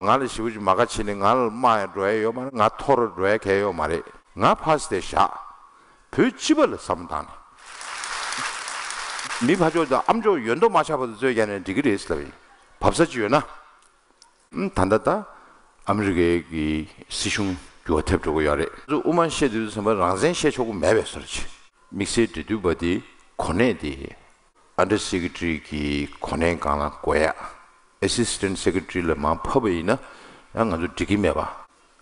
ང་ལ་བྱིའུ་ཆུང་མ་ག་བྱིན་ནི་ང་ལ་མ་ཡང་འགྲོ་ཡ་ཡོད་མ་རེད་ང་ཐོ་ར་འགྲོ་ཡ་གལ་ཡོད་མ་རེད་ང་ཕ་སི་ཏེ་བཞག། བུ་སྤྱི་པ་ལ་བསམ་བློ་བཏང་ནས། མི་ཕ་ཅོག་དང་ཨམ་ཅོག་ཡོད་མདོག་མ་ཆགས་པ་དུ་ཚོད་བརྒྱག་ནས་འགྲིག་གི་རེད་ཟེར་བ་ཡིན་བབ་ས་ཅི་ཡོད་ན། ད་ལྟ་ད་ཨ་མི་རི་ཀའི་གི་སྲིད་གཞུང་འགྱུར་བ་ཐེབས་འགྲོ་གི་ཡོད་རེད། ཨ་ཅོག་དབུ་མ་བཤད་དུས་སུ་སེམས་པ་རང་བཙན་བཤད་ཆོག་གི་མེད་པའི་བཟོ་ར་བྱེད། དམིགས་བསལ་འབྲེལ་གཏུག་པ་དེ་གོ་གནས་དེ Under Secretary གི་གོ་གནས་གང་ལ་བགོ་ཡག Assistant Secretary ལ་མ་ཕབ་པ་ཡིན་ན་ང་ཚོ་འགྲིག་གི་མེད་པ།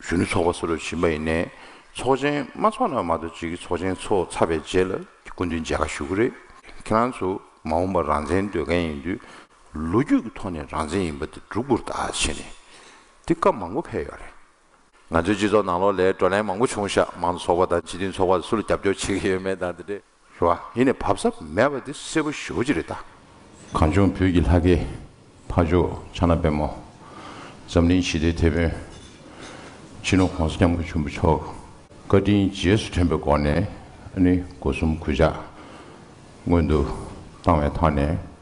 གཞོན་ནུ་ཚོགས་པ་སོ་སོར་བྱིན་པ་ཡིན་ནས་ཚོགས་ཆེན་མ་འཚོགས་ན་མ་གཏོགས་སྤྱིར་ཚོགས་ཆེན་ཚོགས་ཚར་བའི་རྗེས་ལ་སྐུ་མདུན་མཇལ་ཁ་ཞུ་གི་རེད། ཁྱེད་རང་ཚོ་མ་འོངས་པར་རང་བཙན་འདོད་མཁན་ཡིན་དུས་ལོ་རྒྱུས་ཀྱི་ཐོག་ནས་རང་བཙན་ཡིན་པ་དེ་སྒྲུབ་དགོས་རྟགས་བྱས་ནས་དེ་སྐབས་མང་པོ་ཕེབས་ཡོད་རེད། ང་ཚོའི་སྤྱི་ཚོགས་ནང་ལོ་ལེགས་བགྲོ་གླེང་མང་པོ་བྱུང་ཞག་མང་དུ་ཚོགས་པ་དང་སྤྱི་མཐུན་ཚོགས་པ་སུ་ལ་རྒྱབ་སྐྱོར་བྱེད་ཀྱི་ཡོད་མེད་དང་དེ་འདྲའི། རེད་བ། ཡིན་ནས་བབས་ས་མེད་པ་དེ་གསལ་པོ་ཞུ་རྒྱུ་རེད་ད། གངས་ལྗོངས་བོད་ཀྱི་ལྷ་སྐལ། ཕ་མཆོག་ཕྱག་ན་དཔལ་མོ། འཛམ་གླིང་ཞི་བདེའི་དེད་དཔོན། ཕྱི་ནང་གོང་ས་སྐྱབས་མགོན་ཆེན་པོ་མཆོག་བཀའ་དྲིན་རྗེས་སུ་དྲན་པའི་སྒོ་ནས་ནི་སྒོ་གསུམ་གུས་ཕྱག་སྔོན་དུ་བཏང་བའི་ཐང་ནས།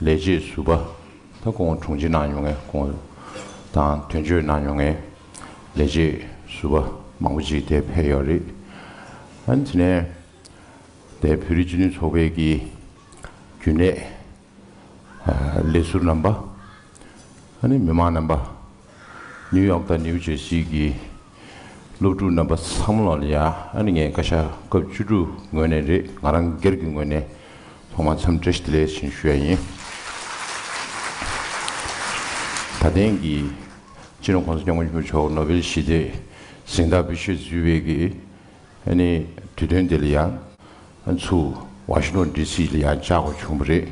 ལས་རྗེས་སུ་པ་ད་ཁོང་དྲུང་ཆེ་གནང་མྱོང་ངས་ཁོང་དང་དོན་གཅོད་གནང་མྱོང་ངས་ལས་རྗེས་སུ་པ་མང་པོ་ཅིག་དེ་ཕེབས་ཡོད་རེད་དེ་ནས་དེ་བོད་རིགས་སྤྱི་མཐུན་ཚོགས་པའི་གི་རྒྱུན་ལས་ལས་ཟུར་རྣམ་པ་ཨ་ནི་མི་མང་རྣམ་པ། ནིའུ་ཡོག་དང་ནིའུ་ཇེར་སི་གྱི་སློབ་ཕྲུག་རྣམ་པ་ཚང་མ་ལ་ཡང་ཨ་ནི་ངས་བཀའ་ཤག་སྐབས་བཅུ་དྲུག་ངོས་ནས་རེད་ང་རང་སྒེར་གྱི་ངོས་ནས་ཐོག་མར་འཚམས་འདྲི་བསྟི་ལེ་ཞིང་ཞུ་ཡ་ཡིན། ད་ཐེངས་ཀྱི་སྤྱི་ནོར ྋགོང་ས ྋསྐྱབས་མགོན་ཆེན་པོ་མཆོག་ནོ་བེལ་ཞི་བདེ་གཟེངས་རྟགས་འབུལ་བཞེས་འཛུལ་བའི་གི་ཨ་ནི་དུས་སྟོན་དེ་ལ་ཡང་ཚུ་ཝཱ་ཤིང་ཏོན་ཏི་སི་ལ་ཡང་བཅར་དགོས་བྱུང་བ་རེད།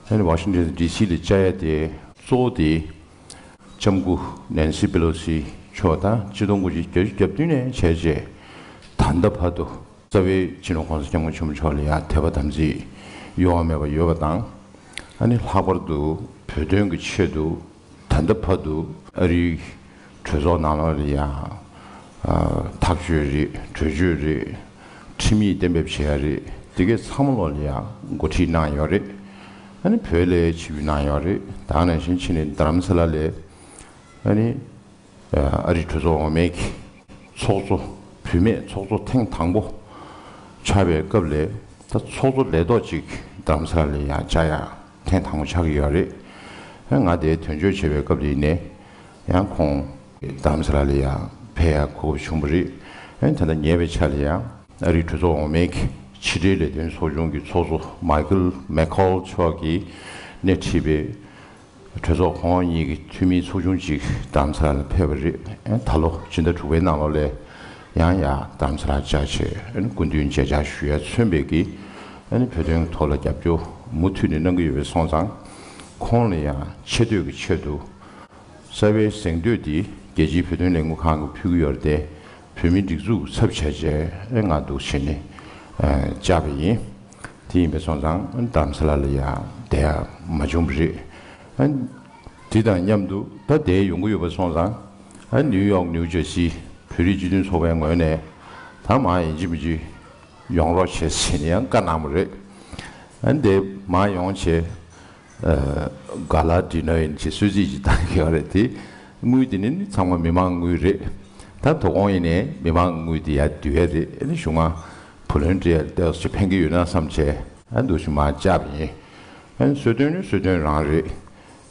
ཨ་ནི་ཝཱ་ཤིང་ཏོན་ཏི་སི་ལ་བཅར་ཡ་དེ་གཙོ་བོ་དེ། ལྕམ་སྐུ་ནན་སི་པེ་ལོ་སི་མཆོག་དང་སྤྱི་ལོ་དགུ་བཅུ་རྒྱབ་བསྟུན་ནས་བྱས་རྗེས་ད་ལྟ་བར་དུ་རྩ་བའི་སྤྱི་ནོར ྋགོང་ས ྋསྐྱབས་མགོན་ཆེན་པོ་མཆོག་ལ་ཡང་དད་པ་དམ་ཚིག་གཡོ་བ་མེད་པ་ཡོད་པ་དང། ཨ་ནི་ལྷག་པར་དུ་བོད་དོན་གྱི་ཆེད་དུ་ད་ལྟ་བར་དུ་ཨ་རིའི་གྲོས་ཚོགས་ནང་ལ་ཡང་ཐག་གཅོད་རེད་གྲོས་ཆོད་རེད། ཁྲིམས་ཡིག་གཏན་འབེབས་བྱས་རེད་དེ་གས་ཚང་མ་ལོག་ལི་ཡ་འགོ་ཁྲིད་གནང་ཡོད་རེད་ཨ་ནི་བོད་ལས་ཕྱི་བུད་གནང་ཡོད་རེད་ད་ནས་བཞིན་ཕྱི་ནས་རྡ་རམ་ས་ལ་ལས་ཨ་ནི་ཨ་རི་གྲོས་ཚོགས་འོ་མའི་གི་ཚོགས་གཙོ་བུད་མེད་ཚོགས་གཙོ་ཐེངས་དང་པོ་ཆགས་པའི་སྐབས་ལས་ད་ཚོགས་གཙོ་ལས་ཏོག་ཅིག་རྡ་རམ་ས་ལ་ལས་ཡག་བྱ་ཡག་ཐེངས་དང་པོ་ཆགས་གི་ཡོད་རེད་ཨ་ང་དེ་དོན་གཅོད་བྱས་པའི་སྐབས་རིག་ནས་ཡང་ཁོང། དམ་སྲི་ལ་ལས་ཡང་ཕལ་ཡང་གོ་སྐབས་བྱུང་བ་རེད། དེ་འདྲ་ཉེས་པའི་ཆ་ལས་ཡང་ཨ་རིའི་གྲོས་ཚོགས་འོག་མའི་ཕྱི་འབྲེལ་ལས་དོན་ཚོགས་ཆུང་གི་ཚོགས་གཙོ Michael McCaul མཆོག་གིས་སྣེ་ཁྲིད་པའི་གྲོས་ཚོགས་ཁོངས་གཉིས་ཀྱི་འཐུས་མིའི་ཚོགས་ཆུང་གཅིག་དམ་སྲི་ལ་ལ་ཕེབས་པ་རེད། ད་ལོ་སྤྱི་ཟླ་དྲུག་པའི་ནང་ལོགས་ལས་ཡང་ཡ་དམ་སྲི་ལ་བཅའ་ཆེད་སྐུ་མདུན་མཇལ་བཅར་ཞུ་ཡ་མཚོན་བེད་ཀྱིས་བོད་དོན་ཐོག་ལ་རྒྱབ་སྐྱོར་མུ་མཐུད་ནས་གནང་གི་ཡོད་པས་སོང་ཙང་ཁོང་ལ་ཡང་ཆེ་བསྟོད་ཀྱི་ཆེད་དུ། རྩ་བའི་གཟེངས་བསྟོད་འདི་རྒྱལ་སྤྱིའི་བོད་དོན་ལས་འགུལ་ཁང་གི་ཕུལ་གྱི་ཡོད་དེ། བོད་མིའི་སྒྲིག་འཛུགས་ཚབ་བྱས་རྗེས་ཨེ་ང་འདུག་བྱས་ནས་བཅར་བ་ཡིན། དེ་ཡིན་པའི་སོང་ཙང་བྲམ་ཟེ་ལ་ལ་ཡང་དེ་མ་བྱུང་བ་རེད། དེ་དང་མཉམ་དུ་ད་ལྟའི་ཡོང་གི་ཡོད་པ་སོང་ཙང་ནིའུ་ཡོག་ནིའུ་ཇར་སི་བོད་རིགས་སྤྱི་མཐུན་ཚོགས་པའི་ངོས་ནས་ད་མ་ཡིན་ཅི་མི་ཅི་ཡོང་རོགས་བྱེད་ཟེར་ནས་ཡང་བཀའ་གནང་བ་རེད། དེ་མ་ཡོང་བྱས། ག་ལ་བྲིས་ན་ཡིན་ཞེས་གསོལ་ཚིགས་ཀྱིས་བཏང་གི་ཡོད་རེད་དེ། དངུལ་དེ་ནི་ཚང་མ་མི་མང་དངུལ་རེད། ད་དོ་དགོང་ཡིན་ནས་མི་མང་གི་དངུལ་དེ་ཡར་བསྡུ་ཡས་རེད་ཨེ་ན་ཞུ་ང། བུ་ལོན་འདྲི་ཡས་ལྟས་སུ་ཕན་གི་ཡོད་ན་བསམ་བྱས། ཨ་འདུག་ཞུ་མ་བཅག་པ་ཡིན། བཟོད་དོན་ནི་བཟོད་དོན་རང་རེད།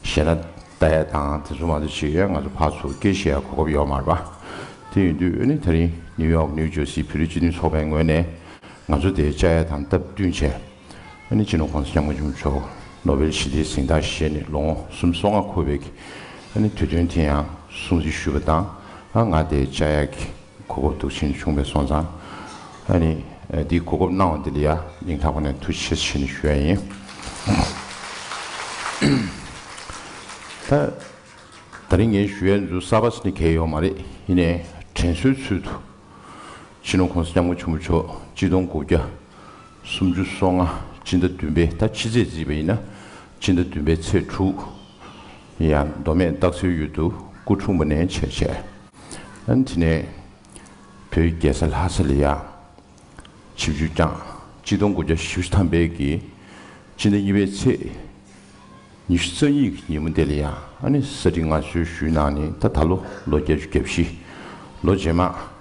ཞེ་ན། ད་ཡས་དང་དེ་ཚོ་མ་འདུག་ཕྱིས་ཡས་ང་ཚོ་ཕར་ཚུར་སྐད་བཤད་ཡས་གོ་སྐབས་ཡོད་མ་རེད་པ། དེ་ཡིན་དུས་ཨེ་ནི་ད་རིང་ནིའུ་ཡོག་ནིའུ་ཇོ་སི་བོད་རིགས་སྤྱི་མཐུན་ཚོགས་པའི་ངོས་ནས་ང་ཚོ་དེ་བཅག་ཡས་དང་སྟབས་བསྟུན་བྱས། ཨ་ནེ་སྤྱི་ནོར་ཁོང་སེང་ཆུང་མཆོག་ནོ་བེལ་ཞི་བདེའི་གཟེངས་རྟགས་བཞེས་ནས་ལོ་ངོ་གསུམ་སོ་ལྔ་འཁོར་བའི་ཨ་ནེ་དུས་སྟོན་དེ་ཡང་སྲུང་བརྩི་ཞུས་པ་དང་ཨ་ང་དེ་བཅའ་ཡག་གི་གོ་སྐབས་འདུག་ཆེན་ཆུང་པའི་སོང་ཙང་ཨ་ནེ་འདིས་གོ་སྐབས་གནང་བ་འདི་ལ་ཡ་གླིང་ལྷག་པ་ནས་ཐུགས་ཆེ་ཆེ་ནས་ཞུ་ཡ་ཡིན། ད་རིང་ངའི་ཞུ་ཡ་འདི་ཚོ་གསར་པ་ཞིག་ནས་གས་ཡོད་མ་རེད་ཡིན་ནས་དྲན་གསོའི་ཚུལ་དུ། སྤྱི་ནོར་ཁོང་སེང་ཆུང་མཆོག་སྤྱི་སྟོང་དགུ་བརྒྱ་སུམ་ཅུ་སོ་ལྔ་སྤྱི་ཟླ་བདུན་པའི་ད་ཕྱི་ཚེས་བརྩིས་པ་ཡིན་ན་སྤྱི་ཟླ་བདུན་པའི་ཚེས་དྲུག་ཡིན་ཡང་མདོ་སྨད་སྟག་འཚེར་ཡུལ་དུ་སྐུ་འཁྲུངས་པ་ནས་ཆེར་ཆེ། ཨན་དེ་ནས་བོད་རྒྱལ་ས་ལྷ་ས་ལ་ཡང་ཆིབས་བརྒྱུད་བསྐྱངས། སྤྱི་སྟོང་དགུ་བརྒྱ་བཞི་བཅུ་ཐམ་པའི་གི་སྤྱི་ཟླ་གཉིས་པའི་ཚེས་ཉི་ཤུ་རྩ་གཉིས་ཀྱི་ཉིན་མོ་དེ་ལ་ཡང་ཨ་ནེ་ས་ཁྲི་མངའ་གསོལ་ཞུས་གནང་ནས་ད་ད་ལོ་ལོ་བརྒྱད་ཅུ་གྱ་བཞི་ལོ་རྗེས་མ།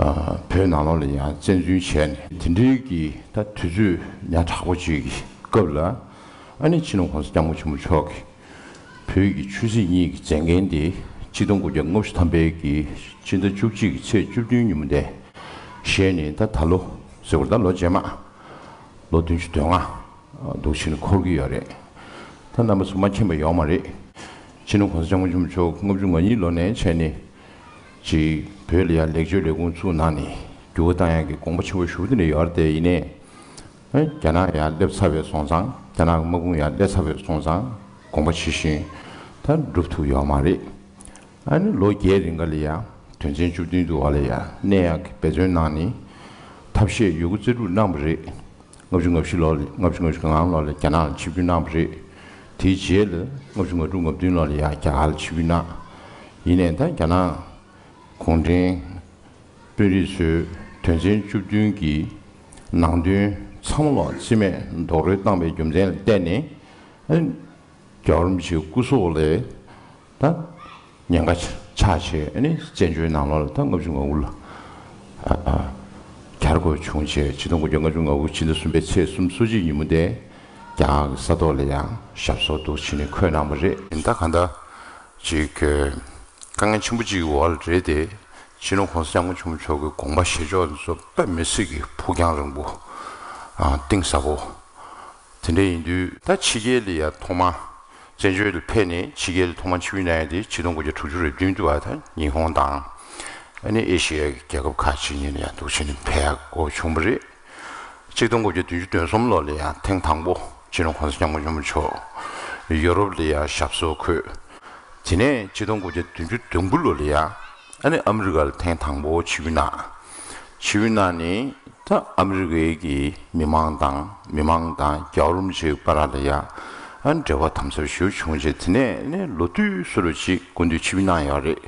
བོད་ནང་ལོགས་ལ་ཡང་བཙན་འཛུལ་བྱས་ནས། དེ་འབྲེལ་གྱི་ད་དུས་ཚོད་ཉག་དྲག་པོ་ཅིག་གི་སྐབས་ལ། ཨ་ནེ་ཆི་ནུ་ཧོང་སི་སྐྱབས་མགོན་ཆེན་པོ་མཆོག་གིས། བོད་ཀྱི་ཆོས་སྲིད་གཉིས་ཀྱི་མཛད་འགན་དེ་གཅིག་དང་དགུ་བརྒྱ་ལྔ་བཅུ་ཐམ་པའི་གི་ཕྱི་ཟླ་བཅུ་གཅིག་གི་ཚེས་བཅུ་བདུན་ཉིན་མོ་དེ་བཞེས་ནས་ད་ད་ལོ་ཟེར་བར་ད་ལོ་རྗེས་མ་ལོ་བདུན་ཅུ་དོན་ལྔ་འདུག་ཕྱིན་འཁོར་གྱི་ཡོད་རེད། ད་རྣམ་པ་ཚོ་མ་མཁྱེན་པ་ཡོང་མ་རེད། ཆི་ནུ་ཧོང་སི་སྐྱབས་མགོན་ཆེན་པོ་མཆོག་ལྔ་བཅུ་ང་གཉིས་ལོ་ནས་བྱས་ནས། གཅིག་བོད་ལ་ཡང་ལེགས་བཅོས་ལས་ཁུངས་ཚུགས་གནང་ནས་རྒྱུ་བ་དང་ཡང་གི་དགོངས་པ་ཆེན་པོ་ཞུ་འདོད་ནི་ཡོད་རྟེ་ཡིན་ནའི། རྒྱ་ནག་ཡང་སླེབས་ཚར་བའི་སོང་ཙང་རྒྱ་ནག་གི་དམག་དཔུང་ཡང་སླེབས་ཚར་བའི་སོང་ཙང་དགོངས་པ་ཇི་བཞིན་ད་འགྲུབ་ཐུབ་ཡོད་མ་རེད། ཨ་ནི་ལོ་བརྒྱའི་རིང་ག་ལ་ཡང་དོན་ཚན་བཅུ་བདུན་དུ་བ་ལ་ཡང་ནས་ཡང་གི་འབད་བརྩོན་གནང་ནས་ཐབས་ཤེས་ཡོད་རྒུ་རྩལ་སྤྲུགས་གནང་བ་རེད། ལྔ་བཅུ་ང་བཞི་ལོར་ལས་ལྔ་བཅུ་ང་བཞི་གངས་ལྷམ་ལོར་ལས་རྒྱ་ནག་ལ་ཆིབས་བསྒྱུར་གནང་བ་རེད། དེའི་རྗེས་ལས་ལྔ་བཅུ་ང་དྲུག་ང་བདུན་ལོར་ལས་ཡང་རྒྱ་གར་ལ་ཆིབས་བསྒྱུར་གནང། ཡིན་ནའི་ད་རྒྱ་ནག་གུང་ཁྲན་དཔོན་རིགས་ཚོས་དོན་ཚན་བཅུ་བདུན་གྱི་ནང་དོན་ཚང་མ་ལ་རྩིས་མེད་རྡོག་རོལ་བཏང་བའི་རྒྱུ་མཚན་ལ་བརྟེན་ནས། རྒྱ་གར་མི་ཆེ་སྐུ་སོགས་ལས་དང། ཉེན་ཁ་ཆགས་ཆེ་བས་ནི་བཙན་བྱོལ་ནང་ལོ་ལ་དྭགས་ལྔ་བཅུ་ང་དགུ་ལ་གྱར་དགོས་བྱུང་རྗེས་ཕྱི་ཟླ་དགུ་བརྒྱ་ལྔ་བཅུ་ང་དགུ་ཕྱི་ཟླ་གསུམ་པའི་ཚེས་གསུམ་གསོལ་བྱེད་ཉིན་མོ་སྟེ་རྒྱ་གར་གྱི་ས་ཐོག་ལ་ཡང་ཞབས་སོར་འདུག་ཕྱིན་ནས་འཁོད་གནང་བ་རེད། ཉིན་ལྟར་གང་ལྟར་ཅིག་དཀའ་ངལ་ཆེན་པོ་ཅིག་གི་འོག་ལ་རེད་དེ། ཕྱི་ལོ་གོང་ས་སྐྱབས་མགོན་ཆེན་པོ་མཆོག་གི་དགོངས་པ་བཞེས་ཕྱོགས་ནས་གསོ་སྤེལ་མི་སེར་གྱི་ཕུགས་རྒྱང་རིང་པོ། གཏིང་ཟབ་པོ། དེ་འདྲ་ཡིན་དུས་ད་ཕྱི་རྒྱལ་ལ་ཡང་ཐོག་མ་བཙན་བྱོལ་ལ་ཕེབས་ནས་ཕྱི་རྒྱལ་ལ་ཐོག་མ་ཆུ་བོའི་ནང་ཡོང་དེ་ཕྱི་སྟོང་དགུ་བརྒྱ་དྲུག་ཅུ་རེ་བདུན་དུ་བ་ད་ཉི་ཧོང་དང་ཨ་ནི་ཨེ་ཤི་ཡའི་རྒྱལ་ཁབ་ཁག་ཅིག་ཉིད་ལ་ཡང་དུག་ཆེན་འདི་འཕེལ་འགོ་བྱུང་བ་རེད། གཅིག་སྟོང་དགུ་བརྒྱ་བདུན་ཅུ་དོན་གསུམ་ལོ་ལ་ཡང་ཐེངས་དང་པོ་ཕྱི་ནང་གོང་ས་སྐྱབས་མགོན་གཡུང་དྲུང་མཆོག་ཡོ་རོབ་ལ་ཡང་ཞབས་སོར་འཁོད། དེ་ནས་གཅིག་སྟོང་དགུ་བརྒྱ་བདུན་ཅུ་དོན་དགུ་ལོ་ལ་ཡང་ཨ་ནི་ཨ་མི་རི་ཀ་ལ་ཐེངས་དང་པོ་ཆི་ཝི་ན། Chivina། ནི་ཨ་མི་རི་ཀའི་ཀྱི་མི་མང་དང་མི་མང་དང་རྒྱའུ་རུམ་ཆི་པ་ར་ལ་ཡ་འབྲེལ་བ་དམ་ཟབ་ཞུ་བྱུང་རྗེས་དེ་ནས་ནི་ལོ་དུས་སུ་རུ་ཆི་དགུན་དུས་ཆི་ཝི་ན་ཡོད་རེད།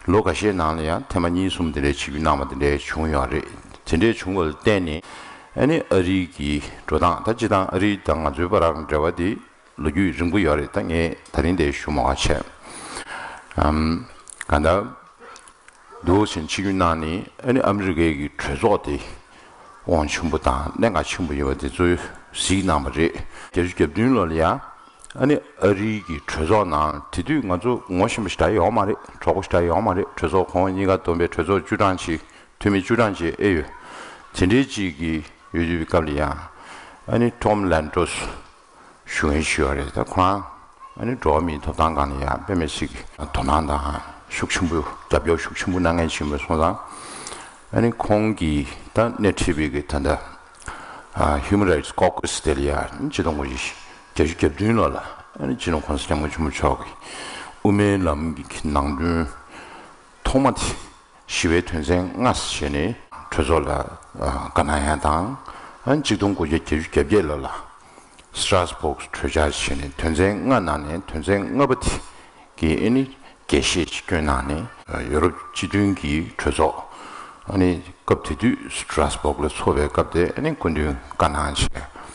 ལོ་ག་ཤས་ནང་ལ་ཡང་ཐེངས་མ་གཉིས་གསུམ་དེ་འདྲའི་ཆི་ཝི་ན་བ་དེ་འདྲའི་བྱུང་ཡོད་རེད། དེ་འདྲའི་བྱུང་བ་ལ་བརྟེན་ནས་ཨ་ནི་ཨ་རིའི་ཀྱི་འགྲོ་སྟངས་ད་སྤྱི་སྟངས་ཨ་རི་དང་ང་ཚོའི་བར་འབྲེལ་བ་དེ་ལོ་རྒྱུས་རིང་པོ་ཡོད་རེད་ད་ངས་ད་རིང་དེ་ཞུ་མ་བྱས། གང་ལྟར། དེའུ་ཆེན་ཆི་ཡུན་ནང་ནི་ཨ་ནི་ཨ་མི་རི་ཀའི་གི་གྲོས་ཚོགས་དེ་དབང་ཆེན་པོ་དང་གནད་འགག་ཆེན་པོ་ཡོད་པ་དེ་ཚོས་གཟིགས་གནང་བ་རེད། རྒྱ་བཅུ་གྱ་བདུན་ལོ་ལ་ཡང་ཨ་ནི་ཨ་རི་གི་གྲོས་ཚོགས་ནང་དེ་དུས་ང་ཚོ་ངོ་བཞིན་པ་ཞིག་གྲ་ཡོང་མ་རེད་གྲོགས་པོ་ཞིག་གྲ་ཡོང་མ་རེད་གྲོས་ཚོགས་ཁོང་གཉིས་ཀ་བསྡོམས་པའི་གྲོས་ཚོགས་བཅུ་གྲངས་ཅིག་འཐུས་མི་བཅུ་གྲངས་ཅིག་ཨེ་ཡོད། དེ་འདྲའི་ཅིག་གི་ཡོད་དུས་པའི་སྐབས་ལ་ཡང་ཨ་ནི་ཏོམ་ལན་ཏྲོས་ཞུ་འོས་ཞུ་ཡ་རེད་ད་ཁོ་རང་ཨ་ནི་འགྲོ་བ་མིའི་ཐོབ་ཐང་གང་ནས་ཡ་དཔེ་མེད་ཞིག་དོ་སྣང་དང་ཤུགས་ཆེན་པོས་རྒྱབ་སྐྱོར་ཤུགས་ཆེན་པོ་གནང་མཁན་ཞིག་མོད་སོང་ཙང་ཨ་ནི་ཁོང་གིས་ད་སྣེ་ཁྲིད་པའི་གི་ད་ལྟ Human Rights Caucus དེ་ལ་ཡ་ནི་སྤྱི་སྟོང་གོ་གྱ་བཞི་གྱ་བདུན་ལོ་ལ་ཨ་ནི་སྤྱི་ནོར་ཁོང་ས་སྐྱབས་མགོན་ཆེན་པོ་མཆོག་གིས་དབུ་མའི་ལམ་གི་གི་ནང་དོན་ཐོག་མ་དེ། ཞི་བའི་དོན་ཚན་ལྔ་ཞེས་ནི། གྲོས་ཚོགས་ལ་ཀ་ན་ཡན་དང། གཅིག་སྟོང་དགུ་བརྒྱ་བརྒྱད་ཅུ་གྱ་བརྒྱད་ལོ་ལ། Strasbourg གྲོས་འཆར་ཞེས་ནི་དོན་ཚན་ལྔ་གནང་ནས་དོན་ཚན་ལྔ་པ་དེ་གིས་ནི་རྒྱས་བཤད་ཅིག་བསྐྱོན་གནང་ནས། ཡོ་རོབ་སྤྱི་མཐུན་གྱི་གྲོས་ཚོགས་ནི་སྐབས་དེ་དུས Strasbourg ལ་འཚོགས་པའི་སྐབས་དེ་ནི་སྐུ་མདུན་བཀའ་གནང་བྱས།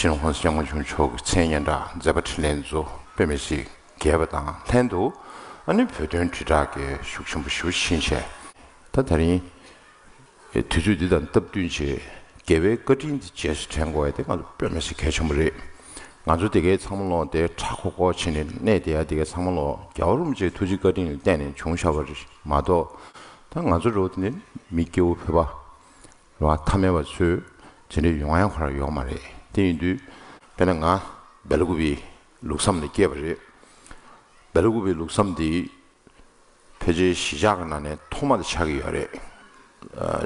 ཕྱི་ལོ་ཧོན་སི་ཅང་དབང་ཆུང་མཆོག་གི་མཚན་སྙན་གྲགས་མཛད་པ་དྲིས་ལན་བཟོ་དཔེ་མི་ཞིག་བརྒལ་བ་དང་ལྷན་དུ་ཨ་ནུའི་བོད་དོན་དྲིལ་བསྒྲགས་ཀྱི་ཤུགས་ཆེན་པོ་ཞུ་བཞིན་བྱས། ད་ད་རིང་གི་དུས་ཚོད་འདི་དང་སྟབས་བསྟུན་ཆེད་རྒྱལ་བའི་བཀའ་དྲིན་འདི་རྗེས་སུ་དྲན་དགོས་བ་དེ་ང་ཚོ་བོད་མི་ཞིག་གལ་ཆེན་པོ་རེད། ང་ཚོ་དེ་གའི་ཚང་མ་ལོག་སྟེ་བྲག་ཁོག་ཁོག་ཕྱིན་ནས་གནས་དེ་ཡང་དེ་གའི་ཚང་མ་ལོག་རྒྱ་བ་རུམ་བཅས་ཐུགས་རྗེ་བཀའ་དྲིན་ལ་བརྟེན་ནས་བྱུང་ཞབས་པ་རེད་མ་གཏོགས་ད་ང་ཚོ་རེ་བ་དེ་ནི་མི་སྐྱེ་བོ་བོད་པ་ལ་ཐ་མལ་བ་ཚོས་དེ་འདྲའི་ཡོང་ཡ་གར་ཡོག་མ་རེད་དེ་ཡིན་དུས་དཔེ་ན་ང་སྦལ་རྐུ་བའི་ལུགས་བསམ་ལས་སྐྱེས་པ་རེད་སྦལ་རྐུ་བའི་ལུགས་བསམ་འདི་བོད་རྗེའི་གཞིས་ཆགས་ཀྱི་ནང་ནས་ཐོག་མ་དུ་ཆགས་ཀྱི་ཡོག་རེད་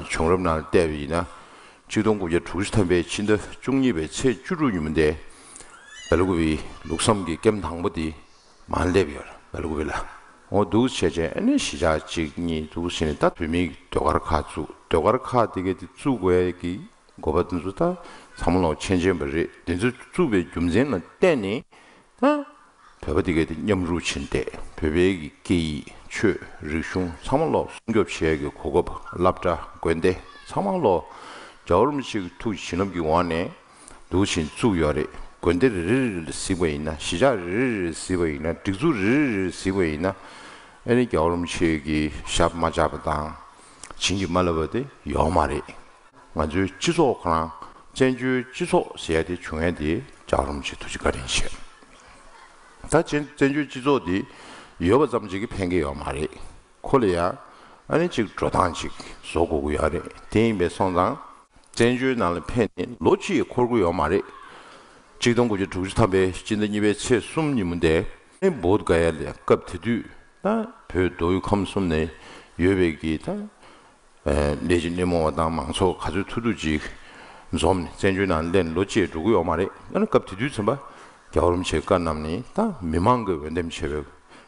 བྱུང་རབས་ནང་བལྟས་པ་ཡིན་ན་གཅིག་སྟོང་དགུ་བརྒྱ་དྲུག་ཅུ་ཐམ་པའི་ཕྱི་ཟླ་བཅུ་གཉིས་པའི་ཚེས་བཅུ་དྲུག་ཉིན་མོ་འདས་སྦལ་རྐུ་བའི་ལུགས་བསམ་གྱི་སྐེམ་དང་པོ་འདི་མ་སླེབས་ཡོད། ལུག་བུ་ལ། ངོ་འདུག་བྱས་བྱས་ཨེ་ནས་གཞིས་ཆགས་གཅིག་གཉིས་འདུག་བྱས་ནས་ད་བོད་མིའི་ཟློས་གར་ཁག་བཙུགས་ཟློས་གར་ཁག་དེ་གའི་དེ་བཙུགས་བས་ཀྱི་དགོས་པ་འདི་ཚོ་ད་ཚང་མ་ལོག་ཆེན་ཆེན་པོ་རེད་འདི་ཚོ་བཙུགས་པའི་རྒྱུ་མཚན་ལ་བརྟེན་ནས་ད་བོད་པ་དེ་གའི་དེ་མཉམ་རུབ་བྱས་ཏེ་བོད་པའི་ཀྱི་སྐད་ཡིག་ཆོས་རིག་གཞུང་ཚང་མ་ལོག་སྲུང་སྐྱོབ་བྱས་ཀྱི་གོ་སྐབས་བསླབ་གྲྭ་དགོན་སྡེ་ཚང་མ་ལོག་རྒྱ་འོར་མི་ཆེ་གི་ཐུགས་བྱིན་རླབས་ཀྱི་འོག་ནས། འདུག་བཞིན་བཙུགས་ཡོད་རེད་དགོན་སྡེ་རེ་རེ་རེ་ལ་གཟིགས་པ་ཡིན་ན་གཞིས་ཆགས་རེ་རེ་རེ་ལ་གཟིགས་པ་ཡིན་ན་སྒྲིག་འཛུགས་རེ་རེ་རེ་ལ་གཟིགས་པ་ཡིན་ན་ཨ་རིའི་རྒྱ་རོམ་ཆོས་ཀྱི་ཞབས་མ་བཅག་པ་དང་བྱིན་གྱིས་མ་བརླབས་པ་དེ་ཡོག་མ་རེད། ང་ཚོའི་སྤྱི་ཚོགས་ཁོ་རང་བཙན་བྱོལ་སྤྱི་ཚོགས་ཟེར་ཡ་དེ་བྱུང་ཡ་དེ་རྒྱ་རོམ་ཆོས་ཐུགས་རྗེ་བཀའ་དྲིན་ཆེ། ད་བཙན་བྱོལ་སྤྱི་ཚོགས་དེ་ཡོད་པ་ཙམ་གྱིས་ཕན་གི་ཡོག་མ་རེད། ཁོ་ལ་ཡ། ཨ་ནི་ཅིག་འགྲོ་སྟངས་ཅིག་བཟོ་དགོས་ཀྱི་ཡོད་རེད་དེ་ཡིན་པས་སོང་ཙང། བཙན་བྱོལ་ནང་ལ་ཕེབས་ནས་ལོ་གཅིག་ཡས་འཁོར་དགོས་ཡོད་མ་རེད། གཅིག་སྟོང་དགུ་བརྒྱ་དྲུག་ཅུ་ཐམ་པའི་སྤྱི་ཟླ་གཉིས་པའི་ཚེས་གསུམ་ཉིན་མོ་འདས། ནི་བོད་ག་ཡ་ལས་སྐབས་དེ་དུས། བོད་མདོ་དབུས་ཁམས་གསུམ་ནས་ཡོད་པའི་གི། ལས་ཀྱི་སྣེ་མོ་བ་དང་མང་ཚོགས་ག་ཚོད་ཐུག་ཐུག་ཅིག་འཛོམས་ནས་བཙན་བྱོལ་ནང་གླེང་ལོ་བཅས་འགྲོ་གི་ཡོག་མ་རེད་ཨ་ནི་སྐབས་དེ་དུས་ཚན་པ་རྒྱ་རོམ་ཆེ་དཀར་རྣམས་ནི་ད་མི་མང་གི་འོས་འདེམས་བྱས་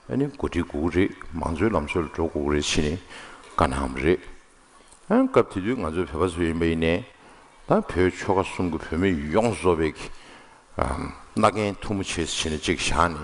པའི་ཨ་ནི་འགོ་ཁྲིད་དགུག་རེད་མང་གཙོའི་ལམ་སྲོལ་འགྲོ་དགུག་རེད་ཕྱིན་ནི་དཀར་ནའམ་རེད་ཨ་ནི་སྐབས་དེ་དུས་ང་ཚོ་བོད་པ་ཚོ་ཡིན་པ་ཡིན་ནས་ད་བོད་ཆོལ་ཁ་གསུམ་གི་བོད་མི་ཡོངས་རྫོགས་པའི་གི་ཨ་མནའ་གན་ཐུག་མོ་བྱས་ཕྱིན་ནི་ཅིག་བཞག་ནི་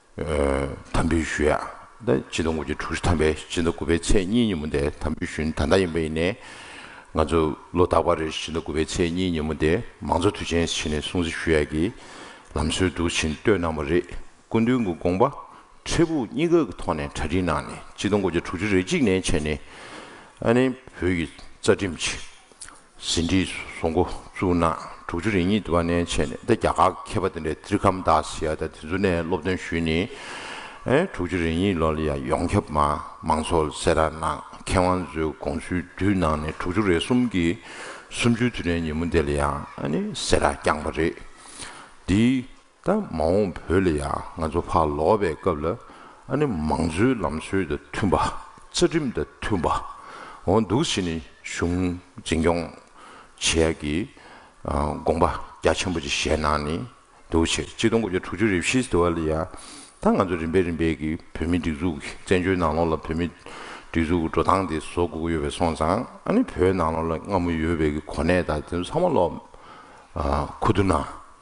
དམ་འབུལ་ཞུ་ཡག་ད་ཕྱི་ཟླ་དགུ་ཚེས་དྲུག་ཞེ་ཐམ་པའི་ཕྱི་ཟླ་དགུ་པའི་ཚེས་གཉིས་ཉིན་མོ་དེ་དམ་འབུལ་ཞུན་ད་ཟླ་ཡིན་པ་ཡིན་ནས་ང་ཚོ་ལོ་རྟག་པར་རེད་ཕྱི་ཟླ་དགུ་པའི་ཚེས་གཉིས་ཉིན་མོ་དེ་མང་གཙོ་དུས་ཆེན་ཞེས་ནས་སྲུང་བརྩི་ཞུ་ཡག་གི་ལམ་སྲོལ་འདུག་བྱིན་བརྟོད་གནང་བ་རེད་སྐུ་མདུན་གྱི་དགོངས་པ་འཕྲལ་ཕུགས་གཉིས་ཀ་གི་ཐོག་ནས་གྲ་སྒྲིག་གནང་ནས་ཕྱི་ཟླ་དགུ་ཚེས་དྲུག་ཅུ་རེ་གཅིག་ནས་བྱས་ནས་ཨ་ནེ་བོད་ཀྱི་རྩ་ཁྲིམས་ཆེད་ཟིན་བྲིས་སུ་བཟོ་འགོ་བཙུགས་ན་དྲུག་ཅུ་རེ་གཉིས་དུ་བ་ནས་ཕྱེས་ནས་ད་རྒྱ་གར་མཁས་པ་དེ་འདྲའི་ཐིར་ཁམ་དཱས་ཡ་ད་དེ་ཚོ་ནས་སློབ་སྟོན་ཞུས་ནས་དྲུག་ཅུ་རེ་གཉིས་ལོར་ཡ་ཡོངས་ཁྱབ་མ་མང་ཚོགས་སེ་ར་ན་མཁས་དབང་བཟོས་དགོངས་ཚུལ་བསྡུས་གནང་ནས་དྲུག་ཅུ་རེ་གསུམ་གྱི་སུམ་ཅུའི་དུས་དྲན་ཉིན་མོ་དེ་ལ་ཡང་སེ་ར་བསྐྱངས་པ་རེད། འདིའི། ད་མ་འོངས་བོད་ལ་ཡང་ང་ཚོ་ཕར་ལོག་པའི་སྐབས་ལ་ཨ་ནི་མང་གཙོའི་ལམ་སྲོལ་དང་མཐུན་པ་རྩ་ཁྲིམས་དང་མཐུན་པ་འོང་འདུག་ཟེར་ནས་གཞུང་འཛིན་སྐྱོང་བྱེད་ཡག་གི་དགོངས་པ་རྒྱ་ཆེན་པོ་ཅིག་བཞེས་གནང་ནས་འདུག་ཕྱིར་གཅིག་སྟོང་དགུ་བརྒྱ་དྲུག་ཅུ་རེ་བཞི་དེ་བ་ལ་ཡང་ད་ང་ཚོ་རིམ་པས་རིམ་པས་ཀྱི་བོད་མིའི་སྒྲིག་འཛུགས་ཀྱི་བཙན་བྱོལ་ནང་ལོགས་ལ་བོད་མིའི་སྒྲིག་འཛུགས་ཀྱི་འགྲོ་སྟངས་དེ་བཟོ་དགོས་ཀྱི་ཡོད་པས་སོང་ཙང་ཨ་ནི་བོད་ནང་ལོགས་ལ་སྔ་མོ་ཡོད་པའི་གི་གོ་གནས་དང་དེ་ཚོ་ཚང་མ་ལོགས་ཁུ་བསྡུ་གནང།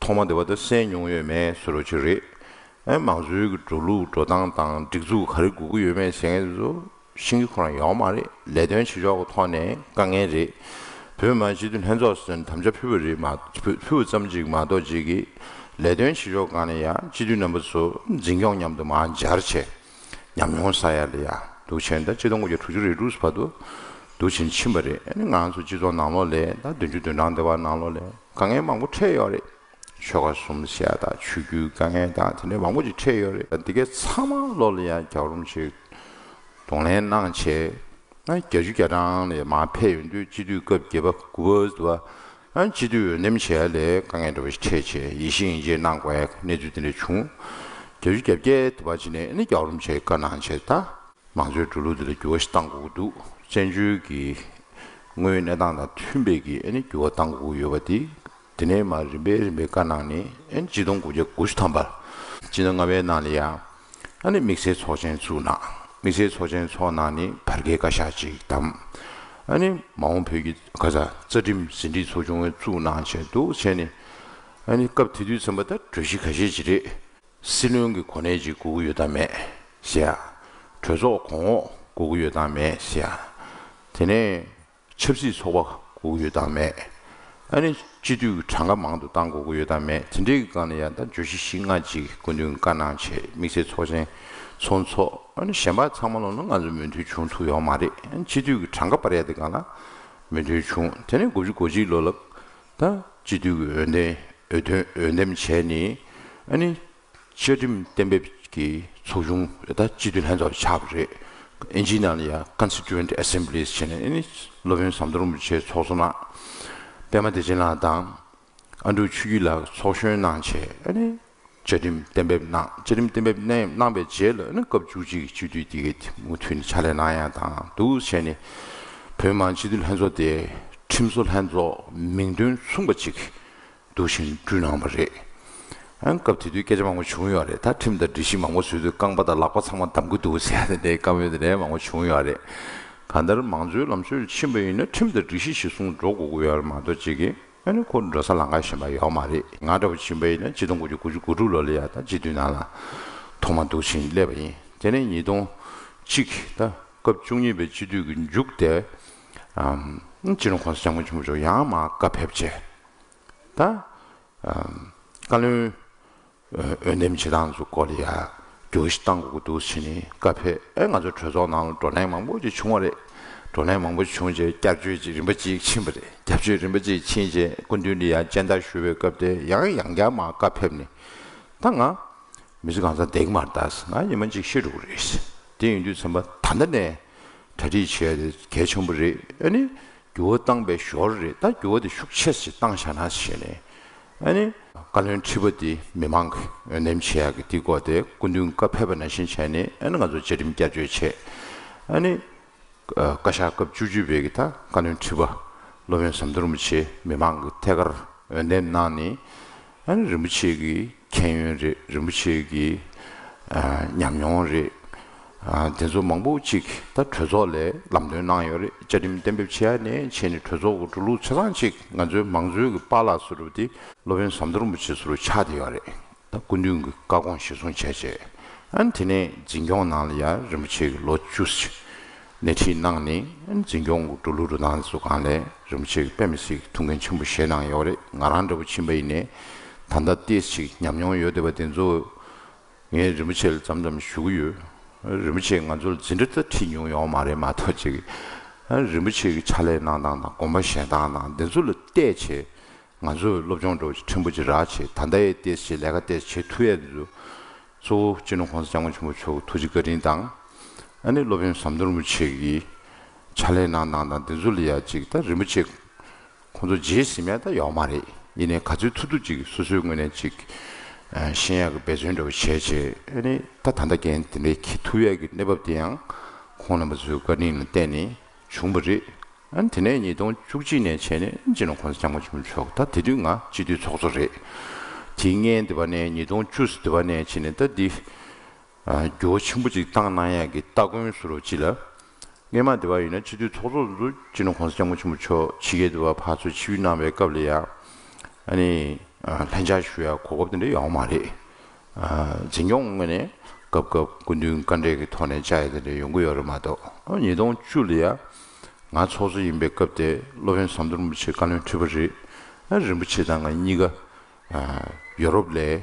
ཐོག་མ་དེ་བར་དུ་གསན་མྱོང་ཡོད་མེད་སུ་རོ་ཆོད་རེད། ཨེ་མང་གཙོའི་གི་འགྲོ་ལུགས་འགྲོ་སྟངས་དང་སྒྲིག་འཛུགས་ག་རེ་དགོས་ཀི་ཡོད་མེད་བྱེད་མཁན་དེ་ཚོ་ཤིང་གི་ཁོ་རང་ཡོད་མ་རེད་ལས་དོན་བྱེད་ཕྱོགས་གི་ཐོག་ནས་དཀའ་ངལ་རེད། བོད་མ་སྤྱི་འཐུས་ལྷན་ཚོགས་སུ་དམ་བཅའ་ཕུལ་བ་རེད་མ་ཕུལ་བ་ཙམ་གཅིག་མ་གཏོགས་རྗེས་ཀི་ལས་དོན་བྱེད་ཕྱོགས་གང་ནས་ཡང་སྤྱི་འཐུས་རྣམ་པ་ཚོ་འཛིན་སྐྱོང་མཉམ་དུ་མ་སྦྱར་ཆེ། ཉམས་མྱོང་ས་ཡ་ལ་ཡ་འདུག་ཆེན་ཟླ་གཅིག་དང་དགུ་བརྒྱ་དྲུག་ཅུ་རེ་དྲུག་བར་དུ་འདུག་ཆེན་ཕྱིན་པ་རེད་ཨ་ནི་ང་ཚོ་སྤྱི་ཚོགས་ནང་ལོག་ལས་ཟླ་བདུན་ཅུ་བདུན་གྲངས་འདི་བར་ནང་ལོག་ལས་དཀའ་ངལ་མང་པོ་འཕྲད་ཡོད་རེད་ཆོལ་ཁ་གསུམ་བཤད་དང་ཆོས་བརྒྱུད་དཀའ་ངལ་དང་དེ་འདྲ་མང་པོ་ཅིག་འཕྲད་ཡོད་རེད་འདི་གའི་ཚང་མ་ལོག་ལས་ཡ་རྒྱག་རུང་ཆེ་གདོང་ལེན་གནང་བྱས་ན་བརྒྱ་ཅུ་བརྒྱ་གྲངས་ལས་མ་འཕེལ་ཡོད་འདུག་སྤྱི་འཐུས་སྐབས་བརྒྱད་པ་དགུ་བ་བ་སྤྱི་འཐུས་འོས་འདེམས་བྱས་ལས་དཀའ་ངལ་འགྲོ་བ་ཞིག་འཕྲད་ཆེད་ཡིད་བཞིན་ཡིད་འཇེས་གནང་བའི་གནས་ཚུལ་དེ་འདྲ་བྱུང། བརྒྱ་བཅུ་གྱ་བརྒྱད་དུ་བ་ཕྱི་ནས་ནི་རྒྱག་རུམ་བྱེད་དཀའ་སྣང་བྱེད་དཀའ། མང་གཙོའི་འགྲོ་ལུགས་དེ་ལ་འགྱུར་བ་ཞིག་གཏང་དགོས་ཀྱི་འདུག་བཙན་བྱོལ་གྱི་དངོས་ཡོད་གནས་སྟངས་དང་མཐུན་པའི་གི་འགྱུར་བ་གཏང་དགོས་ཀྱི་ཡོད་པ་དེ་དེ་ནས་མ་རིམ་པས་རིམ་པས་དཀའ་སྣང་ནི་གཅིག་སྟོང་དགུ་བརྒྱ་དགུ་བཅུ་ཐམ་པ། སྤྱི་ཟླ་ལྔ་བའི་ནང་ལ་ཡང་ཨ་ནི་དམིགས་བསལ་ཚོགས་ཆེན་ཚུགས་ན། དམིགས་བསལ་ཚོགས་ཆེན་ཚོགས་ནང་ནི་བར་བརྒལ་བཀའ་ཤག་ཅིག་བདམས། ཨ་ནི་མ་འོངས་བོད་ཀྱི་ག་ས་རྩ་ཁྲིམས་ཟིན་བྲིས་ཚོགས་ཆུང་བས་བཙུགས་གནང་བྱས་འདུག་བྱས་ནས། ཨ་ནི་སྐབས་དེ་དུས་ཚན་པ་ལྟར་གྲོས་གཞི་ག་ཤེད་ཅིག་རེད། སྲིད་བློན་གྱི་གོ་གནས་ཅིག་སྒུག་གི་ཡོད་དམ་མེད་ཤེས་ཡ། གྲོས་ཚོགས་གོང་འོག་སྒུག་གི་ཡོད་དམ་མེད་ཤེས་ཡ། དེ་ནས་ཆབ་སྲིད་ཚོགས་པ་དགོས་ཀྱི་ཡོད་དམ་མེད། ཨ་རིའི་སྤྱི་འཐུས་ཀྱི་གྲངས་ཀ་མང་དུ་གཏང་དགོས་ཀྱི་ཡོད་དམ་མེད་དེ་འདྲའི་གི་སྒང་ནས་ཡང་ད་འཇོ་ཤི་ཤི་ང་གཅིག་གི་སྐུ་མདུན་བཀའ་གནང་ཆེད་དམིགས་བསལ་ཚོགས་ཆེན་ཚོགས་ཚོགས་ཨ་གཞན་པ་ཚང་མ་ལོ་ན་ང་ཚོ་མོས་མཐུན་བྱུང་ཐུག་ཡོང་མ་རེད་སྤྱི་འཐུས་ཀྱི་གྲངས་ཀ་པར་ཡ་དེ་གང་ལ་མོས་མཐུན་བྱུང་དེ་ནས་དགུ་བཅུ་གོ་གཅིག་ལོ་ལ་ད་སྤྱི་འཐུས་ཀྱི་འོས་འདེམས་འོས་འདེམས་འོས་འདེམས་བྱས་ནི་ཨ་ནི། བཅའ་ཁྲིམས་གཏན་འབེབས་ཀྱི་ཚོགས་ཆུང་རེ་དང་སྤྱི་འཐུས་ལྷན་ཚོགས་རེ་ཆགས་པ་རེད། ཨིན་ཇིའི་ནང་ལ་ཡང Constituent Assemblies བྱས་ནས་ཨིན་ནི་སློབ་དཔོན་ཟམ་གདོང་རིན་པོ་ཆེའི་ཚོགས་གཙོ་གནང། པདྨ་བདེ་ཆེན་ལགས་དང་ཨ་འབྲུག་ཆོས་སྐྱིད་ལགས་ཚོགས་གཞོན་གནང་བྱས་ཨིན་ནི་བཅའ་ཁྲིམས་གཏན་འབེབས་གནང། བཅའ་ཁྲིམས་གཏན་འབེབས་གནང་པའི་རྗེས་ལ་ཨིན་ནི་སྐབས་བཅུ་གཅིག་གི་སྤྱི་འཐུས་དེ་གའི་མུ་མཐུད་ནས་ཕྱག་ལས་གནང་ཡ་དང་འདུག་བྱས་ནས་བོད་མང་སྤྱི་འཐུས་ལྷན་ཚོགས་དེ་ཁྲིམས་བཟོ་ལྷན་ཚོགས་མིང་དོན་མཚུངས་པ་ཅིག་འདུག་བཞིན་བསྐྲུན་གནང་བ་རེད། སྐབས་དེ་དུས་སྐད་ཆ་མང་པོ་བྱུང་ཡོད་རེད་ད་ཁྲིམས་དང་སྒྲིག་གཞི་མང་པོ་ཟོས་དུས་རྐང་པ་དང་ལག་པ་ཚང་མ་བསྡམ་གི་འདུག་ཟེར་ནས་བཀའ་མོལ་དེ་འདྲའི་མང་པོ་བྱུང་ཡོད་རེད། གང་ལྟར་མང་གཙོའི་ལམ་སྲོལ་ཕྱིན་པ་ཡིན་ན་ཁྲིམས་དང་སྒྲིག་གཞི་གཞི་བཟུང་འགྲོ་དགོས་ཀྱི་ཡོད་རེད་མ་གཏོགས་ཅི་གི་ཨ་ནི་ཁོ་འགྲོ་ས་ལང་ཀ་བཞིན་པ་ཡོད་མ་རེད་ང་འདྲ་བོ་བྱིན་པ་ཡིན་ན་སྤྱི་སྟོང་དགུ་བཅུ་དགུ་ཅུ་དགུ་དྲུག་ལོ་ལ་ཡར་ཐང་སྤྱི་འཐུས་ནང་ལ་ཐོག་མ་འདུག་བཞིན་སླེབས་པ་ཡིན་དེ་ནས་ཉིས་སྟོང་གཅིག་ད་སྐབས་བཅུ་གཉིས་པའི་སྤྱི་འཐུས་ཀྱི་མཇུག་དེ། སྤྱི་ནོར་ཁོང་ས་སྐྱབས་མགོན་ཆེན་པོ་མཆོག་ཡང་མ་བཀའ་ཕེབས་རྗེས། ད། བཀའ་བློན། འོས་འདེམས་བྱེད་སྟངས་སུ་སྐོར་ཡག་རྒྱུགས་གཞི་བཏང་དགོས་ཀྱི་འདུག་ཕྱི་ནས་བཀའ་ཕེབས་ང་ཚོ་གྲོས་ཚོགས་ནང་ལ་བགྲོ་གླེང་མང་པོ་ཅིག་བྱུང་བ་རེད། བགྲོ་གླེང་མང་པོ་བྱུང་རྗེས་བསྐྱར་བཅོས་ཅིག་རིམ་པ་གཅིག་ཕྱིན་པ་རེད་བསྐྱར་བཅོས་རིམ་པ་གཅིག་ཕྱིན་རྗེས་སྐུ་མདུན་ནས་ཡང་སྤྱན་བསྟར་ཞུ་བའི་སྐབས་དེ་ཡང་ཡང་བསྐྱར་མ་བཀའ་ཕེབས་ནས། ད་ང། མི་ཚེ་གང་ཙམ་འདས་ཀྱི་མ་རེད་ད་ང་ཉི་མ་གཅིག་ཤི་འགྲོ་གི་རེད། དེ་ཡིན་དུས་ཚན་པ་ད་ལྟ་ནས་གྲ་སྒྲིག་བྱས་ཏེ་གལ་ཆེན་པོ་རེད་ཨ་ནི། འགྱུར་བ་བཏང་པའི་ཞོར་རེད་ད་འགྱུར་བ་དེ་ཤུགས་ཆེ་ཞིག་བཏང་ཤག་ན་ཞེས་ནས་ཨ་ནི། བཀའ་བློན་ཁྲི་པ་དེ་མི་མང་གི་འོས་འདེམས་བྱེད་ཡག་གི་དེའི་སྐོར་དེ་སྐུ་མདུན་བཀའ་ཕེབས་པ་ན་བཞིན་བྱས་ནས་ཨ་ནི་ང་ཚོ་བཅའ་ཁྲིམས་བསྐྱར་བཅོས་བྱེད་ཨ་ནི། བཀའ་ཤག་སྐབས་བཅུ་བཅུ་པའི་གི་ད་བཀའ་བློན་ཁྲི་པ་སློབ་ཡོན་ཟམ་དུར་མོ་ཆེ་མི་མང་གི་ཐད་ཀར་འོས་འདེམས་གནང་ནི། ཨ་ནི་རིན་པོ་ཆེ་གི་ཁྱད་ཡོན་རེད་རིན་པོ་ཆེ་གི་ཉམས་མྱོང་རེད། དེ་ཚོ་མང་པོ་ཅིག་ད་གྲོས་ཚོགས་ལས་ལམ་སྟོན་གནང་ཡོད་རེད་བཅའ་ཁྲིམས་གཏན་འབེབས་བྱེད་ཡ་ནས་བྱས་ནས་གྲོས་ཚོགས་ཀྱི་འགྲོ་ལུགས་ཆ་ཚང་ཅིག་ང་ཚོའི་མང་གཙོའི་གི་པ་ལགས་སུ་རུབ་སྟེ། སློབ་དཔོན་ཟམ་གདོང་རིན་པོ་ཆེ་སུ་རུ་ཆགས་བསྡད་ཡོད་རེད་ད་སྐུ་མདུན་གྱི་བཀའ་དགོངས་གཞིར་བཟུང་བྱས་བྱས། ཨ་ནི་དེ་ནས་འཛིན་སྐྱོང་ནང་ལ་ཡ་རིན་པོ་ཆེ་གི་ལོ་བཅུ། སྣེ་ཁྲིད་གནང་ནས་འཛིན་སྐྱོང་གི་འགྲོ་ལུགས་འགྲོ་སྟངས་སུ་གང་ལེགས་རིམ་བཞིན་སྤེལ་མི་སྲིད་ཐུགས་འགན་ཆེན་པོ་བཞེས་གནང་ཡོད་རེད་ང་རང་འདྲ་བོ་ཕྱིན་པ་ཡིན་ནས་ད་ལྟ་ལྟས་ཤིག་ཉམས་མྱོང་ཡོད་བསྡད་པ་དེ་ཚོ་ངས་རིན་པོ་ཆེ་ལ་ཙམ་ཙམ་ཞུ་གི་ཡོད་རིན་པོ་ཆེས་ང་ཚོ་ལ་འཛིན་གྲྭ་ལྟར་ཁྲིད་མྱོང་ཡོང་མ་རེད་མ་གཏོགས་ཅིག་རིན་པོ་ཆེ་གི་ཕྱག་ལས་གནང་སྟངས་དང་དགོངས་པ་བཞེས་སྟངས་དང་དེ་ཚོ་ལ་ལྟས་བྱས་ང་ཚོས་སློབ་སྦྱོང་འགྲོ་བྱེད་ཕྲན་བུ་ཅིག་རག་བྱས་ད་ལྟའི་ལྟས་བྱས་ལས་ཀ་ལྟས་བྱས་ཐུག་ཡས་དེ་ཚོ་གཙོ་བོ་སྤྱི་ནོར ྋགོང་ས ྋསྐྱབས་མགོན་ཆེན་པོ་མཆོག་ཐུགས་རྗེ་བཀའ་དྲིན་དང། ཨ་ནེ་སློབ་དཔོན་ཟམ་གདོང་རིན་པོ་ཆེ་གི་ཕྱག་ལས་གནང་སྟངས་དང་དེ་ཚོ་ལ་ཡང་ཅིག་ད་རིན་པོ་ཆེ་ཁོང་ཚོ་རྗེས་ཟིན་མེད་ད་ཡོག་མ་རེད་ཡིན་ནའི་ག་ཚོད་ཐུབ་ཐུབ་ཅིག་སོ་སོའི་ངོས་ནས་ཅིག་ཤེས་ཡག་གི་འབད་བརྩོན་འདྲ་བོ་བྱས་བྱས་ཨ་ནེ་ད་ད་ལྟ་འགན་དེ་འདྲའི་ཁྱི་ཐུག་ཡག་གི་གནས་བབ་དེ་ཡང་ཁོང་རྣམ་པ་ཚོའི་བཀའ་དྲིན་ལ་བརྟེན་ནས་བྱུང་བ་རེད། དེ་ནས་ཉིས་སྟོང་བཅུ་གཅིག་ནས་བྱས་ནས་ཅི་ནང་ཁོང་ས་སྐྱང་པོ་བྱུང་ཆོག་ད་དེ་དུས་ང་སྤྱི་འཐུས་ཚོགས་གཙོ་རེད། དེ་སྔའི་འདི་བ་ནས་ཉིས་སྟོང་བཅུ་གསུམ་འདི་བ་ནས་ཕྱིན་ནས་ད་འདི། འགྱོ་བོ་ཆེན་པོ་ཅིག་བཏང་གནང་ཡག་གི་སྟ་གོན་སུ་རོ་ཅི་ལ། སྔའི་མ་འདི་བ་ཡིན་ན་སྤྱི་འཐུས་ཚོགས་གཙོ་འདུག་ཅི་ནང་ཁོང་ས་སྐྱང་པོ་བྱུང་ཆོག་ཕྱི་རྒྱལ་དུ་བ་ཕག་ཚོས་ཕྱི་བཞུད་གནང་བའི་སྐབས་ལ་ཡང། ལྷན་འཇགས་ཞུ་ཡག་གོ་སྐབས་དེ་འདྲ་ཡོང་མ་རེད། འཛིན་སྐྱོང་ངོས་ནས་སྐབས་སྐབས་སྐུ་མདུན་བཀའ་འབྲེལ་གྱི་ཐོག་ནས་བཅའ་ཡི་དེ་འདྲ་ཡོང་གི་ཡོད་རེད་མ་གཏོགས་ཉིས་སྟོང་བཅུ་ལ་ཡང་ང་ཚོགས་གཙོ་ཡིན་པའི་སྐབས་དེ་སློབ་དཔོན་ཟམ་གདོང་རིན་པོ་ཆེ་བཀའ་བློན་ཁྲི་པ་རེད། རིན་པོ་ཆེ་དང་ང་གཉིས་ཀ་ཡོ་རོབ་ལས་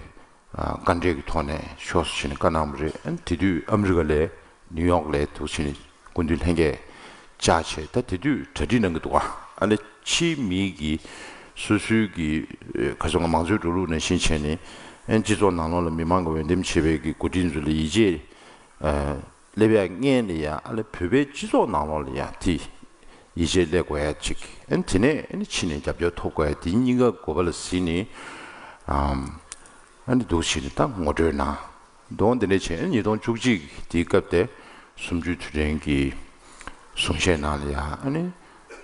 བཀའ་འབྲེལ་གྱི་ཐོག་ནས་ཕྱོགས་སུ་ཕྱིན་ནས་བཀའ་གནང་བ་རེད། དེ་དུས་ཨ་མི་རི་ཀ་ལས་ནིའུ་ཡོག་ལས་དུ་ཕྱིན་ནས་དགུན་དུས་ལྷན་རྒྱས་བཅའ་བྱས་ད་དེ་དུས་གྲ་སྒྲིག་གནང་གི་འདུག་ཨ་ཨ་ལེ་ཕྱིའི་མི་གི་སོ་སོའི་གི་ག་སོང་ང་མང་གཙོའི་འགྲོ་ལུགས་ནང་བཞིན་བྱས་ནི་ཨན་སྤྱི་ཚོགས་ནང་ལོག་ལ་མི་མང་གི་འོས་འདེམས་བྱེད་པའི་གི་གོ་སྒྲིག་འཛུ་ལེ་ཡི་རྗེས་སླེབས་ཡ་ངན་ལེ་ཡ་ཨ་ལེ་བོད་པའི་སྤྱི་ཚོགས་ནང་ལོག་ལེ་ཡ་དེ་ཡི་རྗེས་སླེབས་དགོས་ཡ་ཅིག་ཨན་དེ་ནས་ཨན་ཕྱི་ནས་རྒྱབ་སྐྱོར་ཐོབ་དགོས་ཡ་དེ་གཉིས་ཀ་དགོས་པ་ལ་ཟིན་ནི་ཨ་ཨ་ལེ་འདུག་བྱས་ནི་ད་ངོ་སྤྲོད་གནང། སྡོང་དེ་འདྲའི་ཆེན་ཉིས་སྟོང་བཅུ་གཅིག་དེའི་སྐབས་དེ་སུམ་བཅུའི་དུས་དྲན་གྱི་གསུང་བཤད་ནང་ལ་ཡང་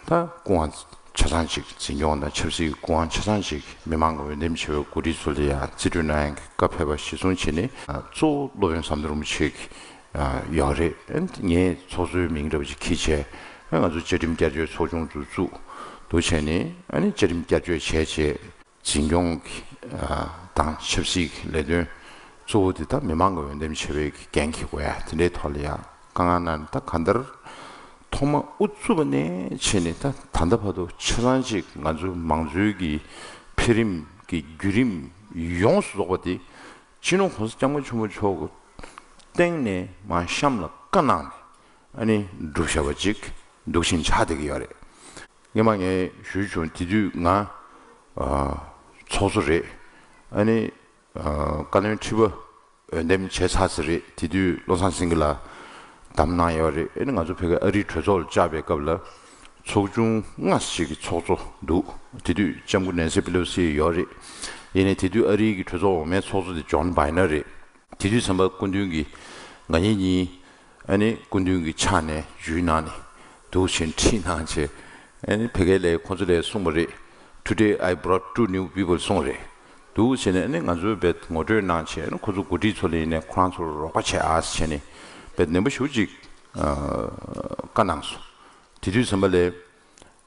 ད་སྐུ་དབང་ཆ་ཚང་ཅིག་འཛིན་སྐྱོང་དང་ཆབ་སྲིད་སྐུ་དབང་ཆ་ཚང་ཅིག་མི་མང་གི་འོས་འདེམས་བྱས་པའི་འགོ་ཁྲིད་ཚོ་ལ་ཡང་རྩིས་སྤྲོད་གནང་ཡང་སྐབས་ཕལ་པ་གཞི་བཟུང་བྱས་ནས། གཙོ་བོ་སློབ་དཔོན་ཟམ་གདོང་རིན་པོ་ཆེ་ཡག་རེད་ངས་ཚོགས་གཙོའི་མིང་འདྲ་པོ་ཅིག་གིས་བྱས་ང་ཚོ་བཅའ་ཁྲིམས་བསྐྱར་བཅོས་ཚོགས་ཆུང་དུ་བཙུགས་འདུག་བྱས་ནས་བཅའ་ཁྲིམས་བསྐྱར་བཅོས་བྱས་རྗེས། འཛིན་སྐྱོང་དང་ཆབ་སྲིད་ཀྱི་ལས་དོན་གཙོ་བོ་དེ་དག་མི་མང་གི་འོས་འདེམས་བྱ་བའི་འགན་ཁྱེར་དགོས་ཡ་དེ་འདྲའི་ཐོག་ལ་ཡ་དཀའ་ངལ་གནང་ནས་ད་ག་འདར། ཐོག་མ་དབུ་བཙུགས་པ་ནས་ཕྱེས་ནས་ད་ད་ལྟ་བར་དུ་ཆ་ཚང་ཅིག་ང་ཚོ་མང་གཙོའི་གི་འཕེལ་རིམ་གི་བརྒྱུད་རིམ་ཡོངས་སུ་རྫོགས་པ་དེ་སྤྱི་ནོར་གོང་ས་སྐྱབས་མགོན་ཆེན་པོ་མཆོག་གི་སྟེང་ནས་མ་གཤམ་ལ་བཀའ་གནང་ནས་ཨ་ནི་བསྒྲུབས་བཞག་པ་ཅིག་འདུག་ཕྱིན་ཆགས་བསྡད་ཀྱི་ཡོད་རེད། ངས་མ་ངེས་ཞུས་བྱུང་དེ་དུས་ང། ཚོགས་གཙོ་རེད། ཨ་ནི། བཀའ་བློན་ཁྲི་པ་འོས་འདེམས་བྱས་ཚར་ཟིན་རེད་དེ་དུས་བློ་བཟང་སེང་གེ་ལ་བདམས་གནང་ཡས་པ་རེད་ཨ་ནི་ང་ཚོ་བོད་ཀྱི་ཨ་རིའི་གྲོས་ཚོགས་ལ་བཅར་པའི་སྐབས་ལ། ཚོགས་ཆུང་ལྔ་ཞིག་གི་ཚོགས་གཙོ་འདུག་དེ་དུས་ལྕམ་སྐུ་ནན་སེ་པི་ལོ་སི་ཡོད་རེད། ཡེ་ནས་དེ་དུས་ཨ་རིའི་གི་གྲོས་ཚོགས་འོག་མའི་ཚོགས་གཙོ་དེ་ཇོན་བཱི་ནཱ་རེད། དེ་དུས་ཚན་པ་སྐུ་མདུན་གྱིས་ང་ཉིད་གཉིས། ཨ་ནི་སྐུ་མདུན་གྱི་ཕྱག་ནས་ཇུས་ནང་ནས་འདུག་ཕྱིན་འཁྲིད་གནང་བྱས། ཨ་ནི་བྷེ་གྷལ་ལའི་ཁོང་ཚོ་ལས་གསུངས་པ་རེད Today I brought two new people གསུངས་རེད་འདུག་བྱས་ནས་ཨ་ནི་ང་ཚོའི་བེད་ངོ་སྤྲོད་གནང་བྱས་ཨ་ནི་ཁོ་ཚོ་འགོ་ཁྲིད་ཚོ་ལ་ཡིན་ནས་ཁོ་རང་ཚོར་རོགས་པ་བྱས་ཨཱས་བྱས་ནས་བེད་ནན་པོ་ཞུ་ཅིག་བཀའ་གནང་སོང་དེ་དུས་ཟེར་མ་ལེ་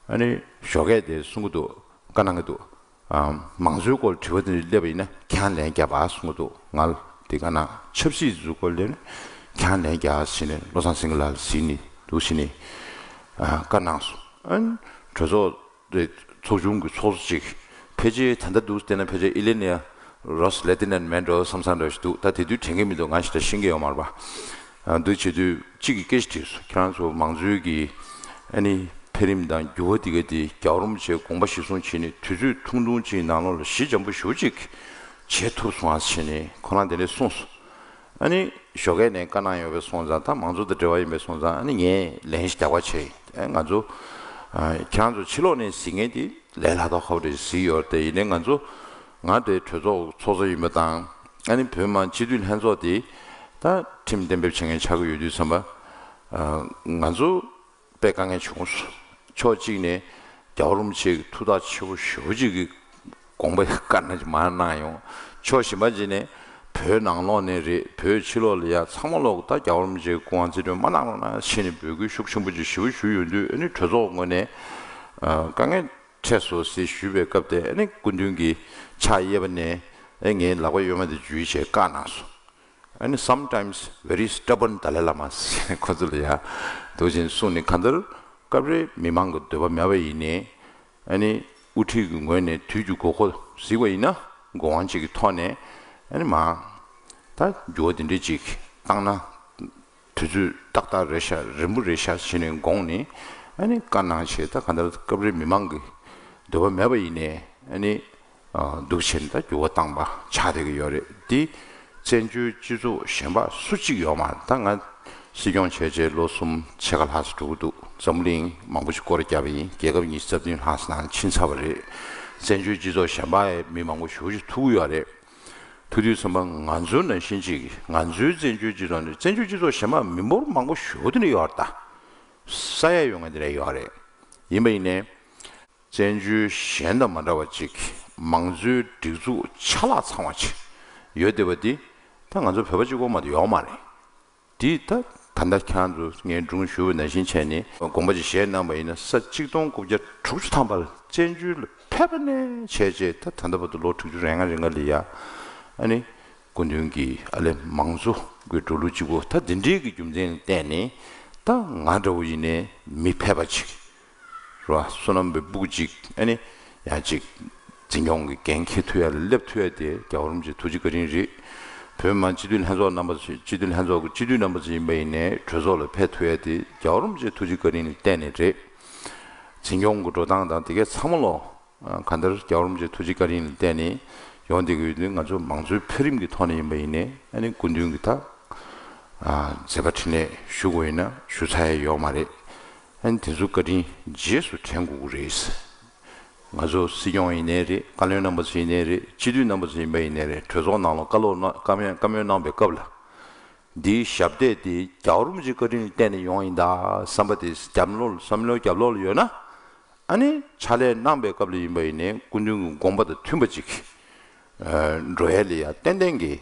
ཨ་ནི་ཞོ་གས་དེ་གསུང་གི་འདུག་བཀའ་གནང་གི་འདུག་མང་གཙོའི་སྐོར་དྲི་བ་འདི་འདྲ་སླེབས་པ་ཡིན་ན་ཁྱང་ལན་རྒྱབ་ཨ་གསུང་གི་འདུག་ང་ལ་འདི་ག་ན་ཆབ་སྲིད་འཛུགས་སྐོར་སླེབས་ན་ཁྱང་ལན་རྒྱག་བཞིན་ནས་བློ་བཟང་སེང་གེ་ལགས་ལ་ཟིན་ནི་འདུག་བཞིན་ནི་བཀའ་གནང་སོང། གྲོས་ཚོགས་དེ་ཚོགས་ཆུང་གི་ཚོགས་གཙོ་ཅིག་ཕལ་ཆེ་ད་ལྟ་འདུག་བལྟས་ན་ཕལ་ཆེ་ཨི་ལེ་ནེ་ཡ་རོས་ལེ་ཏི་ནན་མན་འགྲོ་བསམ་བསམ་འདྲ་བ་ཞིག་འདུག་ད་དེ་དུས་དྲན་གི་མི་འདུག་ང་ཞིག་ད་ཤེས་ཀྱི་ཡོད་མ་རེད་པ། འདུ་བྱེད་དུས་གཅིག་གི་སྐད་ཆ་དེ་ཁྱེད་རང་ཚོ་མང་གཙོའི་གི་ཨ་ནི་འཕེལ་རིམ་དང་འགྱུར་བ་འདི་ག་དེ་རྒྱག་རུམ་བྱས་དགོངས་པ་ཞིག་སོང་བྱས་ནས་དུས་ཚོད་ཐུང་ཐུང་ཅིག་ནང་ལོག་ལ་གཞི་འཇམ་པོ་ཞུ་ཅིག་བྱས་ཐུབ་སོང་ཨ་བྱས་ནས་ཁོ་རང་དེ་འདྲས་གསུངས་སོ་ཨ་ནི་ཞོ་གས་ལན་བཀའ་གནང་ཡོད་པས་སོང་ཙང་ད་མང་གཙོ་དང་འབྲེལ་བ་ཡིན་པས་སོང་ཙང་ཨ་ནི་ངས་ལན་ཞིག་རྒྱག་པ་བྱས་ཨ་ང་ཚོ་ཁྱེད་རང་ཚོ་ཕྱི་ལོག་ནས་གཟིགས་ངེས་དེ་ལས་ལྷ་ཐོག་ཧབ་རེ་གཟིགས་ཡོད་རེད་ཡིན་ནས་ང་ཚོ་ང་དེ་གྲོས་ཚོགས་ཚོགས་གཙོ་ཡིན་པ་དང་ཨ་ནི་བོད་མང་སྤྱི་འཐུས་ལྷན་ཚོགས་དེ་ད་ཁྲིམས་གཏན་འབེབས་བྱེད་མཁན་ཆགས་ཀྱི་ཡོད་དུས་བསམ་པ། ང་ཚོ་པས་དཀའ་ངལ་བྱུང་སོང། ཕྱོགས་གཅིག་ནས་རྒྱ་བོར་རུམ་ཆེ་གི་ཐུགས་ཐག་ཆེ་པོ་ཞུ་བ་ཅིག་གི་དགོངས་པའི་བཀའ་ན་ཅིག་མ་གནང་ཡོང། ཕྱོགས་གཞན་པ་གཅིག་ནས་བོད་ནང་ལོགས་ནས་རེད་བོད་ཕྱི་ལོགས་ལ་ཡ་ཚང་མ་ལོག་ད་རྒྱ་བོར་རུམ་ཆེ་གི་སྐུ་དབང་རྩིས་སྤྲོད་མ་གནང་རོགས་གནང་ཕྱིན་ནས་འབོད་སྐུལ་ཤུགས་ཆེན་པོ་ཅིག་ཞུ་བ་ཞུ་ཡོང་དུས་ཨ་ནི་གྲོས་ཚོགས་ངོས་ནས་དཀའ་ངལ་ཁྲལ་བཟོ་ཟེར་ཞུས་པའི་སྐབས་དེ་ནི་སྐུ་མདུན་གྱི་ཕྱག་གཡས་པ་ནས་ངའི་ལག་པ་གཡོན་མ་དེ་འཇུས་བྱས་བཀག་གནང་སོང། Sometimes very stubborn ཏཱ་ལའི་བླ་མ་ཞེས་ཁོ་ཚོ་ལ་ཡང་དུ་བཞིན་གསུངས་ནས་གང་ལྟར་སྐབས་རེ་མི་མང་གི་འདོད་པ་མེད་པ་ཡིན་ནས། དབུ་ཁྲིད་ཀྱི་ངོས་ནས་དུས་ཀྱི་དགོས་མཁོ་གཟིགས་པ་ཡིན་ན་དགོས་དབང་ཅིག་གི་ཐོག་ནས། མང་དག་འགྱུར་བ་འདི་འདྲ་ཅིག་བཏང་ན། དུས་ཚོད་ཏག་ཏག་རེད་ཤག་རིང་པོ་རེད་ཤག་བྱས་ནས་དགོངས་ནས་ཨ་ནི་དཀར་ནག་ཆེད་ད་ག་འདྲ་སྐབས་རེ་མི་མང་གི་འདོད་པ་མེད་པ་ཡིན་ནས་ཨ་ནི་འདུག་བྱས་ནས་ད་འགྱུར་བ་བཏང་པ་ཆགས་བསྡད་ཀྱི་ཡོད་རེད་དེ། བཙན་བྱོལ་སྤྱི་ཚོགས་གཞན་པ་སུ་གཅིག་ཡོང་མ་ད་ང་སྲིད་སྐྱོང་བྱས་རྗེས་ལོ་གསུམ་ཕྱེད་ཀ་ལྷག་སུ་འགྲོ་གི་འདུག་འཛམ་བུ་གླིང་མང་པོ་ཞིག་སྐོར་བརྒྱབ་ཡིན་རྒྱལ་ཁབ་ཉིས་རྩ་བདུན་ལྷག་ནང་ཕྱིན་ཚར་བ་རེད་བཙན་བྱོལ་སྤྱི་ཚོགས་གཞན་པའི་མི་མང་པོ་ཞུགས་ཀྱི་ཐུག་གི་ཡོད་རེད། ཕུ་དུས་ཚང་པ་ང་ཚོའི་ནང་བཞིན་ཅིག་ང་ཚོའི་བཙན་བྱོལ་སྤྱི་ཚོགས་ནི་བཙན་བྱོལ་སྤྱི་ཚོགས་གཞན་མ་མི་འབོར་མང་པོ་ཞོ་དུ་ནས་ཡོད་ར་ས་ཡ་ཡོད་ང་དེ་ར་ཡོད་རེད་ཡིན་པ་ཡིན་ནའི། བཙན་བྱོལ་གཞན་དང་མ་འདྲ་བ་ཅིག་མང་གཙོའི་སྒྲིག་འཛུགས་ཆ་ལག་ཚང་བ་ཅིག་ཡོད་བསྡད་པ་འདི་ད་ང་ཚོ་བོད་པ་གཅིག་གོང་མ་དུ་ཡོད་མ་རེད། འདི་ད་ལྟ་ཁྱང་ཚོ་ངའི་སྒྲུང་ཞུ་བའི་ན་བཞིན་བྱས་ནས། དགོངས་པ་ཅིག་བཞེས་གནང་བ་ཡིན་ན་ས་གཅིག་སྟོང་དགུ་བརྒྱ་དྲུག་ཅུ་ཐམ་པར་བཙན་བྱོལ་ལ་ཕེབས་པ་ནས་བྱས་རྗེས་ད་ད་ལྟ་བར་དུ་ལོ་དྲུག་ཅུ་རེ་ལྔ་རེ་ལྔ་ལས་ཡག་ཨ་ནི་སྐུ་མདུན་གྱིས་ཨ་ལས་མང་གཙོ་དགོས་འགྲོ་ལུགས་གཅིག་པོ་ད་འདི་འདྲིའི་གི་རྒྱུ་མཚན་ལ་བརྟེན་ནས་ད་ང་འདྲ་བོ་ཡིན་ནས་མི་ཕེབས་པ་ཅིག་རོ། བསོད་ནམས་པའི་སྦུག་ཅིག་ཨེ་ནི། ཡང་ཅིག། འཛིན་སྐྱོང་གི་འགན་འཁྱེར་ཐུ་ཡ་ལ་སླེབས་ཐུ་ཡ་དེ་རྒྱ་གོར་མོ་ཆེ་ཐུགས་རྗེ་བཀའ་དྲིན་རེད། བོད་མི་མང་སྤྱི་འཐུས་ལྷན་ཚོགས་རྣམ་པ་ཚོས་སྤྱི་འཐུས་ལྷན་ཚོགས་ཀྱི་སྤྱི་འཐུས་རྣམ་པ་ཚོ་ཡིན་པ་ཡིན་ནས་གྲོས་ཚོགས་ལ་ཕེབས་ཐུ་ཡ་དེ་རྒྱ་གོར་མོ་ཆེ་ཐུགས་རྗེ་བཀའ་དྲིན་ལ་བརྟེན་ནས་རེད། འཛིན་སྐྱོང་གི་འགྲོ་སྟངས་དང་དེ་གས་ཚང་མ་ལོ། ག་འདིར་རྒྱ་གོར་མོ་ཆེ་ཐུགས་རྗེ་བཀའ་དྲིན་ལ་བརྟེན་ནས་ཡོང་དེ་གི་ཡོད་དུས་ང་ཚོ་མང་གཙོའི་འཕེལ་རིམ་གི་ཐོག་ནས་ཡིན་པ་ཡིན་ནས་ཨ་ནི་སྐུ་མདུན་གི་ཐག། མཛད་པ་འཕྲིན་ལས་ཞུ་དགོས་ཡིན་ན་ཞུ་ཚ་ཡས་ཡོག་མ་རེད། ཧན་དེ་ཚོ་བཀའ་དྲིན་རྗེས་སུ་དྲན་དགོས་ཀྱི་རེད། ང་ཚོ་སྲིད་སྐྱོང་ཡིན་ནའི་རེད་བཀའ་བློན་རྣམ་པ་ཚོ་ཡིན་ནའི་རེད་སྤྱི་འཐུས་རྣམ་པ་ཚོ་ཡིན་པ་ཡིན་ནའི་རེད་གྲོས་ཚོགས་ནང་ལ་བཀའ་སློབ་བཀའ་མོལ་གནང་པའི་སྐབས་ལ། འདིའི་ཞབས་སྟེགས་དེ་རྒྱ་གར་རུམ་གྱི་བཀའ་དྲིན་ལ་བརྟེན་ནས་ཡོང་ཡིན་ད་བསམ་པ་དེ་རྒྱབ་ལོག་ལ་བསམ་བློའི་རྒྱབ་ལོག་ལ་ཡོད་ན། ཨ་ནི་ཕྱག་ལས་གནང་པའི་སྐབས་ལ་ཡིན་པ་ཡིན་ནའི་སྐུ་མདུན་གྱི་དགོངས་པ་དང་མཐུན་པ་ཅིག་འགྲོ་ཡ་ལི་ཡ་ཏན་ཏན་གྱིས་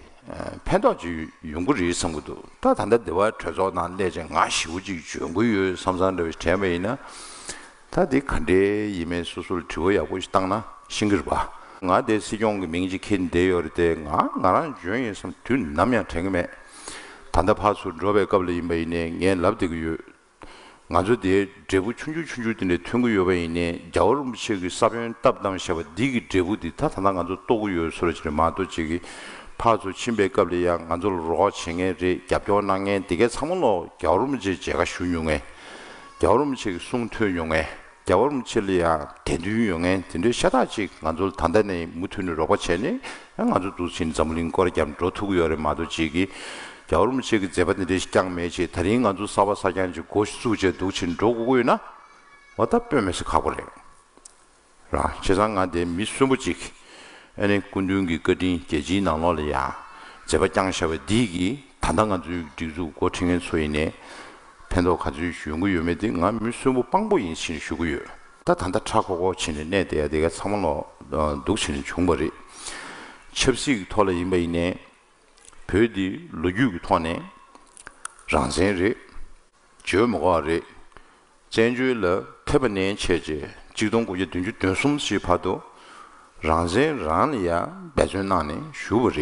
ཕན་ཐོགས་ཅིག་ཡོང་གི་རེད་བསམ་གྱི་འདུག་ད་ད་ལྟ་སྡེ་བ་གྲོས་ཚོགས་ནང་སླད་ཆེད་ང་ཞིབ་བོ་ཅིག་བརྗོད་དགོས་ཡོད་བསམ་བསམ་འདྲ་བོ་ཞིག་དྲན་པ་ཡིན། ད་དེ་ག་འདྲའི་ཡིན་མིན་སོ་སོར་དྲི་བ་ཡག་པོ་ཞིག་བཏང་ན་ཤིན་གི་རེད་པ། ང་དེ་སྲིད་སྐྱོང་གི་མིང་ཅིག་འཁྱེར་འདས་ཡོད་རེད་དེ་ང་ང་རང་འཇོན་ཡིན་བསམ་དུས་ནམ་ཡང་དྲན་གི་མེད། ད་ལྟ་ཕར་ཚུར་འགྲོ་བའི་སྐབས་ལ་ཡིན་པ་ཡིན་ནའི་ངས་ལབ་བསྡད་ཀྱི་ཡོད། ང་ཚོ་དེ་འབྲས་བུ་ཆུང་ཆུང་ཆུང་ཆུང་དེ་འདྲ་ཐོན་གྱི་ཡོད་པ་ཡིན་ནས་རྒྱ་བོད་རིན་པོ་ཆེ་གི་ས་བོན་བཏབ་བཏང་ཞེས་པ་འདི་གི་འབྲས་བུ་འདི་ད་ད་ནངས་ང་ཚོ་རྟོགས་གྱི་ཡོད་སོ་ར་ཅིག་རེད་མ་གཏོགས་ཅིག་གིས་ཕར་ཚུར་ཕྱིན་པའི་སྐབས་ལས་ཡང་ང་ཚོ་ལ་རོགས་བྱེད་མཁན་རེད་རྒྱབ་སྐྱོར་གནང་མཁན་དེ་གས་ཚང་མ་ལོག་རྒྱ་བོད་རིན་པོ་ཆེ་མཇལ་ཁ་ཞུ་མྱོང་ངས་རྒྱ་བོད་རིན་པོ་ཆེ་གི་གསུང་ཐོས་མྱོང་ངས། རྒྱ་བོར་མི་ཆེ་ལ་ཡང་དད་འདུན་ཡོད་ངེས་དེ་འདྲའི་ཤ་ཐག་ཅིག་ང་ཚོ་ལ་ད་ལྟ་ནས་མུ་མཐུད་ནས་རོགས་པ་བྱས་ནས་ང་ཚོ་འཛུགས་ཕྱིན་འཛམ་བུ་གླིང་སྐོར་རྒྱབ་འགྲོ་ཐུབ་ཀྱི་ཡོད་རེད་མ་གཏོགས་ཅིག་གིས་རྒྱ་བོར་མི་ཆེ་གི་མཛད་པ་འདི་འདྲའི་རྐྱང་མེད་ཅིག་ད་རིང་ང་ཚོ་གསར་བ་ས་རྐྱང་ཅིག་འགོ་བཙུགས་བྱས་འདུག་ཕྱིན་འགྲོ་དགོས་ཀྱི་ཡོད་ན་བ་ད་དཔོན་མེད་ས་ཁག་པོ་རེད་རང་བྱས་ཙང་ང་དེ་མི་གསོན་པོ་ཅིག་ཨ་ནི་སྐུ་མདུན་གྱི་བཀའ་དྲིན་རྒྱལ་སྤྱིའི་ནང་ལོགས་ལ་ཡང་མཛད་པ་རྐྱང་ཤར་བས་འདིས་གིས། ད་ལྟ་ང་ཚོའི་སྒྲིག་འཛུགས་འགོ་ཁྲིད་མཁན་ཚོ་ཡིན་ནས། ཕན་ཐོགས་ག་ཚོད་ཞུ་གི་ཡོད་མེད་དེ་ང་མི་གསོན་པོ་དཔང་པོ་ཡིན་ཕྱིར་ཞུ་གི་ཡོད། ད་ད་ལྟ་ཁྲ་ཁོག་ཁོག་བྱས་ནས་གནས་བསྡད་ཡ་དེ་ག་ཚང་མ་ལོག་འདུག་བྱས་ནས་བྱུང་བ་རེད། ཆབ་སྲིད་ཀྱི་ཐོག་ལ་ཡིན་པ་ཡིན་ནས། བོད་འདི་ལོ་རྒྱུས་ཀྱི་ཐོག་ནས་རང་བཙན་རེད། བརྗོད་མི་དགོས་པ་རེད། བཙན་བྱོལ་ལ་ཕེབས་པ་ནས་ཆེད་རྗེ་གཅིག་སྟོང་དགུ་བརྒྱ་བདུན་ཅུ་དོན་གསུམ་བཞིའི་བར་དུ་རང་བཙན་རང་ལ་ཡང་འབད་བརྩོན་གནང་ནས་བཞུགས་པ་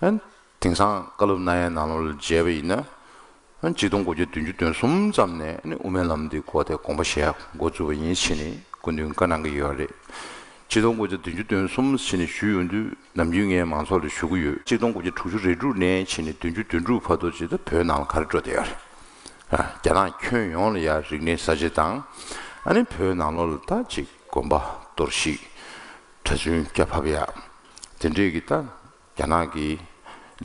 རེད། དེང་སང་བཀའ་སློབ་གནང་ཡས་ནང་ལོག་ལ་མཇལ་བ་ཡིན་ན། གཅིག་སྟོང་དགུ་བརྒྱ་བདུན་ཅུ་དོན་གསུམ་ཙམ་ནས་དབུ་མའི་ལམ་འདི་སྐོར་ཐད་དགོངས་པ་བཞེས་མགོ་བཙུགས་པ་ཡིན་ཕྱིན་ནས་སྐུ་མདུན་བཀའ་གནང་གི་ཡོད་རེད། གཅིག་སྟོང་དགུ་བརྒྱ་བདུན་ཅུ་དོན་གསུམ་བཞི་ནས་ཞུས་ཡོང་དུས། ནམ་རྒྱུན་ངས་མང་ཚོགས་ལ་ཞུ་གི་ཡོད། གཅིག་སྟོང་དགུ་བརྒྱ་དྲུག་ཅུ་རེ་དྲུག་ནས་ཕྱིན་ནས་བདུན་ཅུ་དོན་དྲུག་བར་དུ་ཇི་ལྟར་བོད་ནང་ལ་ག་རེ་འགྲོ་བསྡད་ཡོད་རེད། རྒྱ་ནག་ཁྱོན་ཡོངས་ལ་ཡང་རིག་གནས་གསར་བརྗེ་དང། ཨ་ནི་བོད་ནང་ལོགས་ལ་ལྟ་ཅིག་དགོན་པ་གཏོར་བཤིག། གྲྭ་བཙུན་སྐྱ་ཕབ་ཡ། དེ་འདྲས་ཀྱིས་ལྟ། རྒྱ་ནག་གི་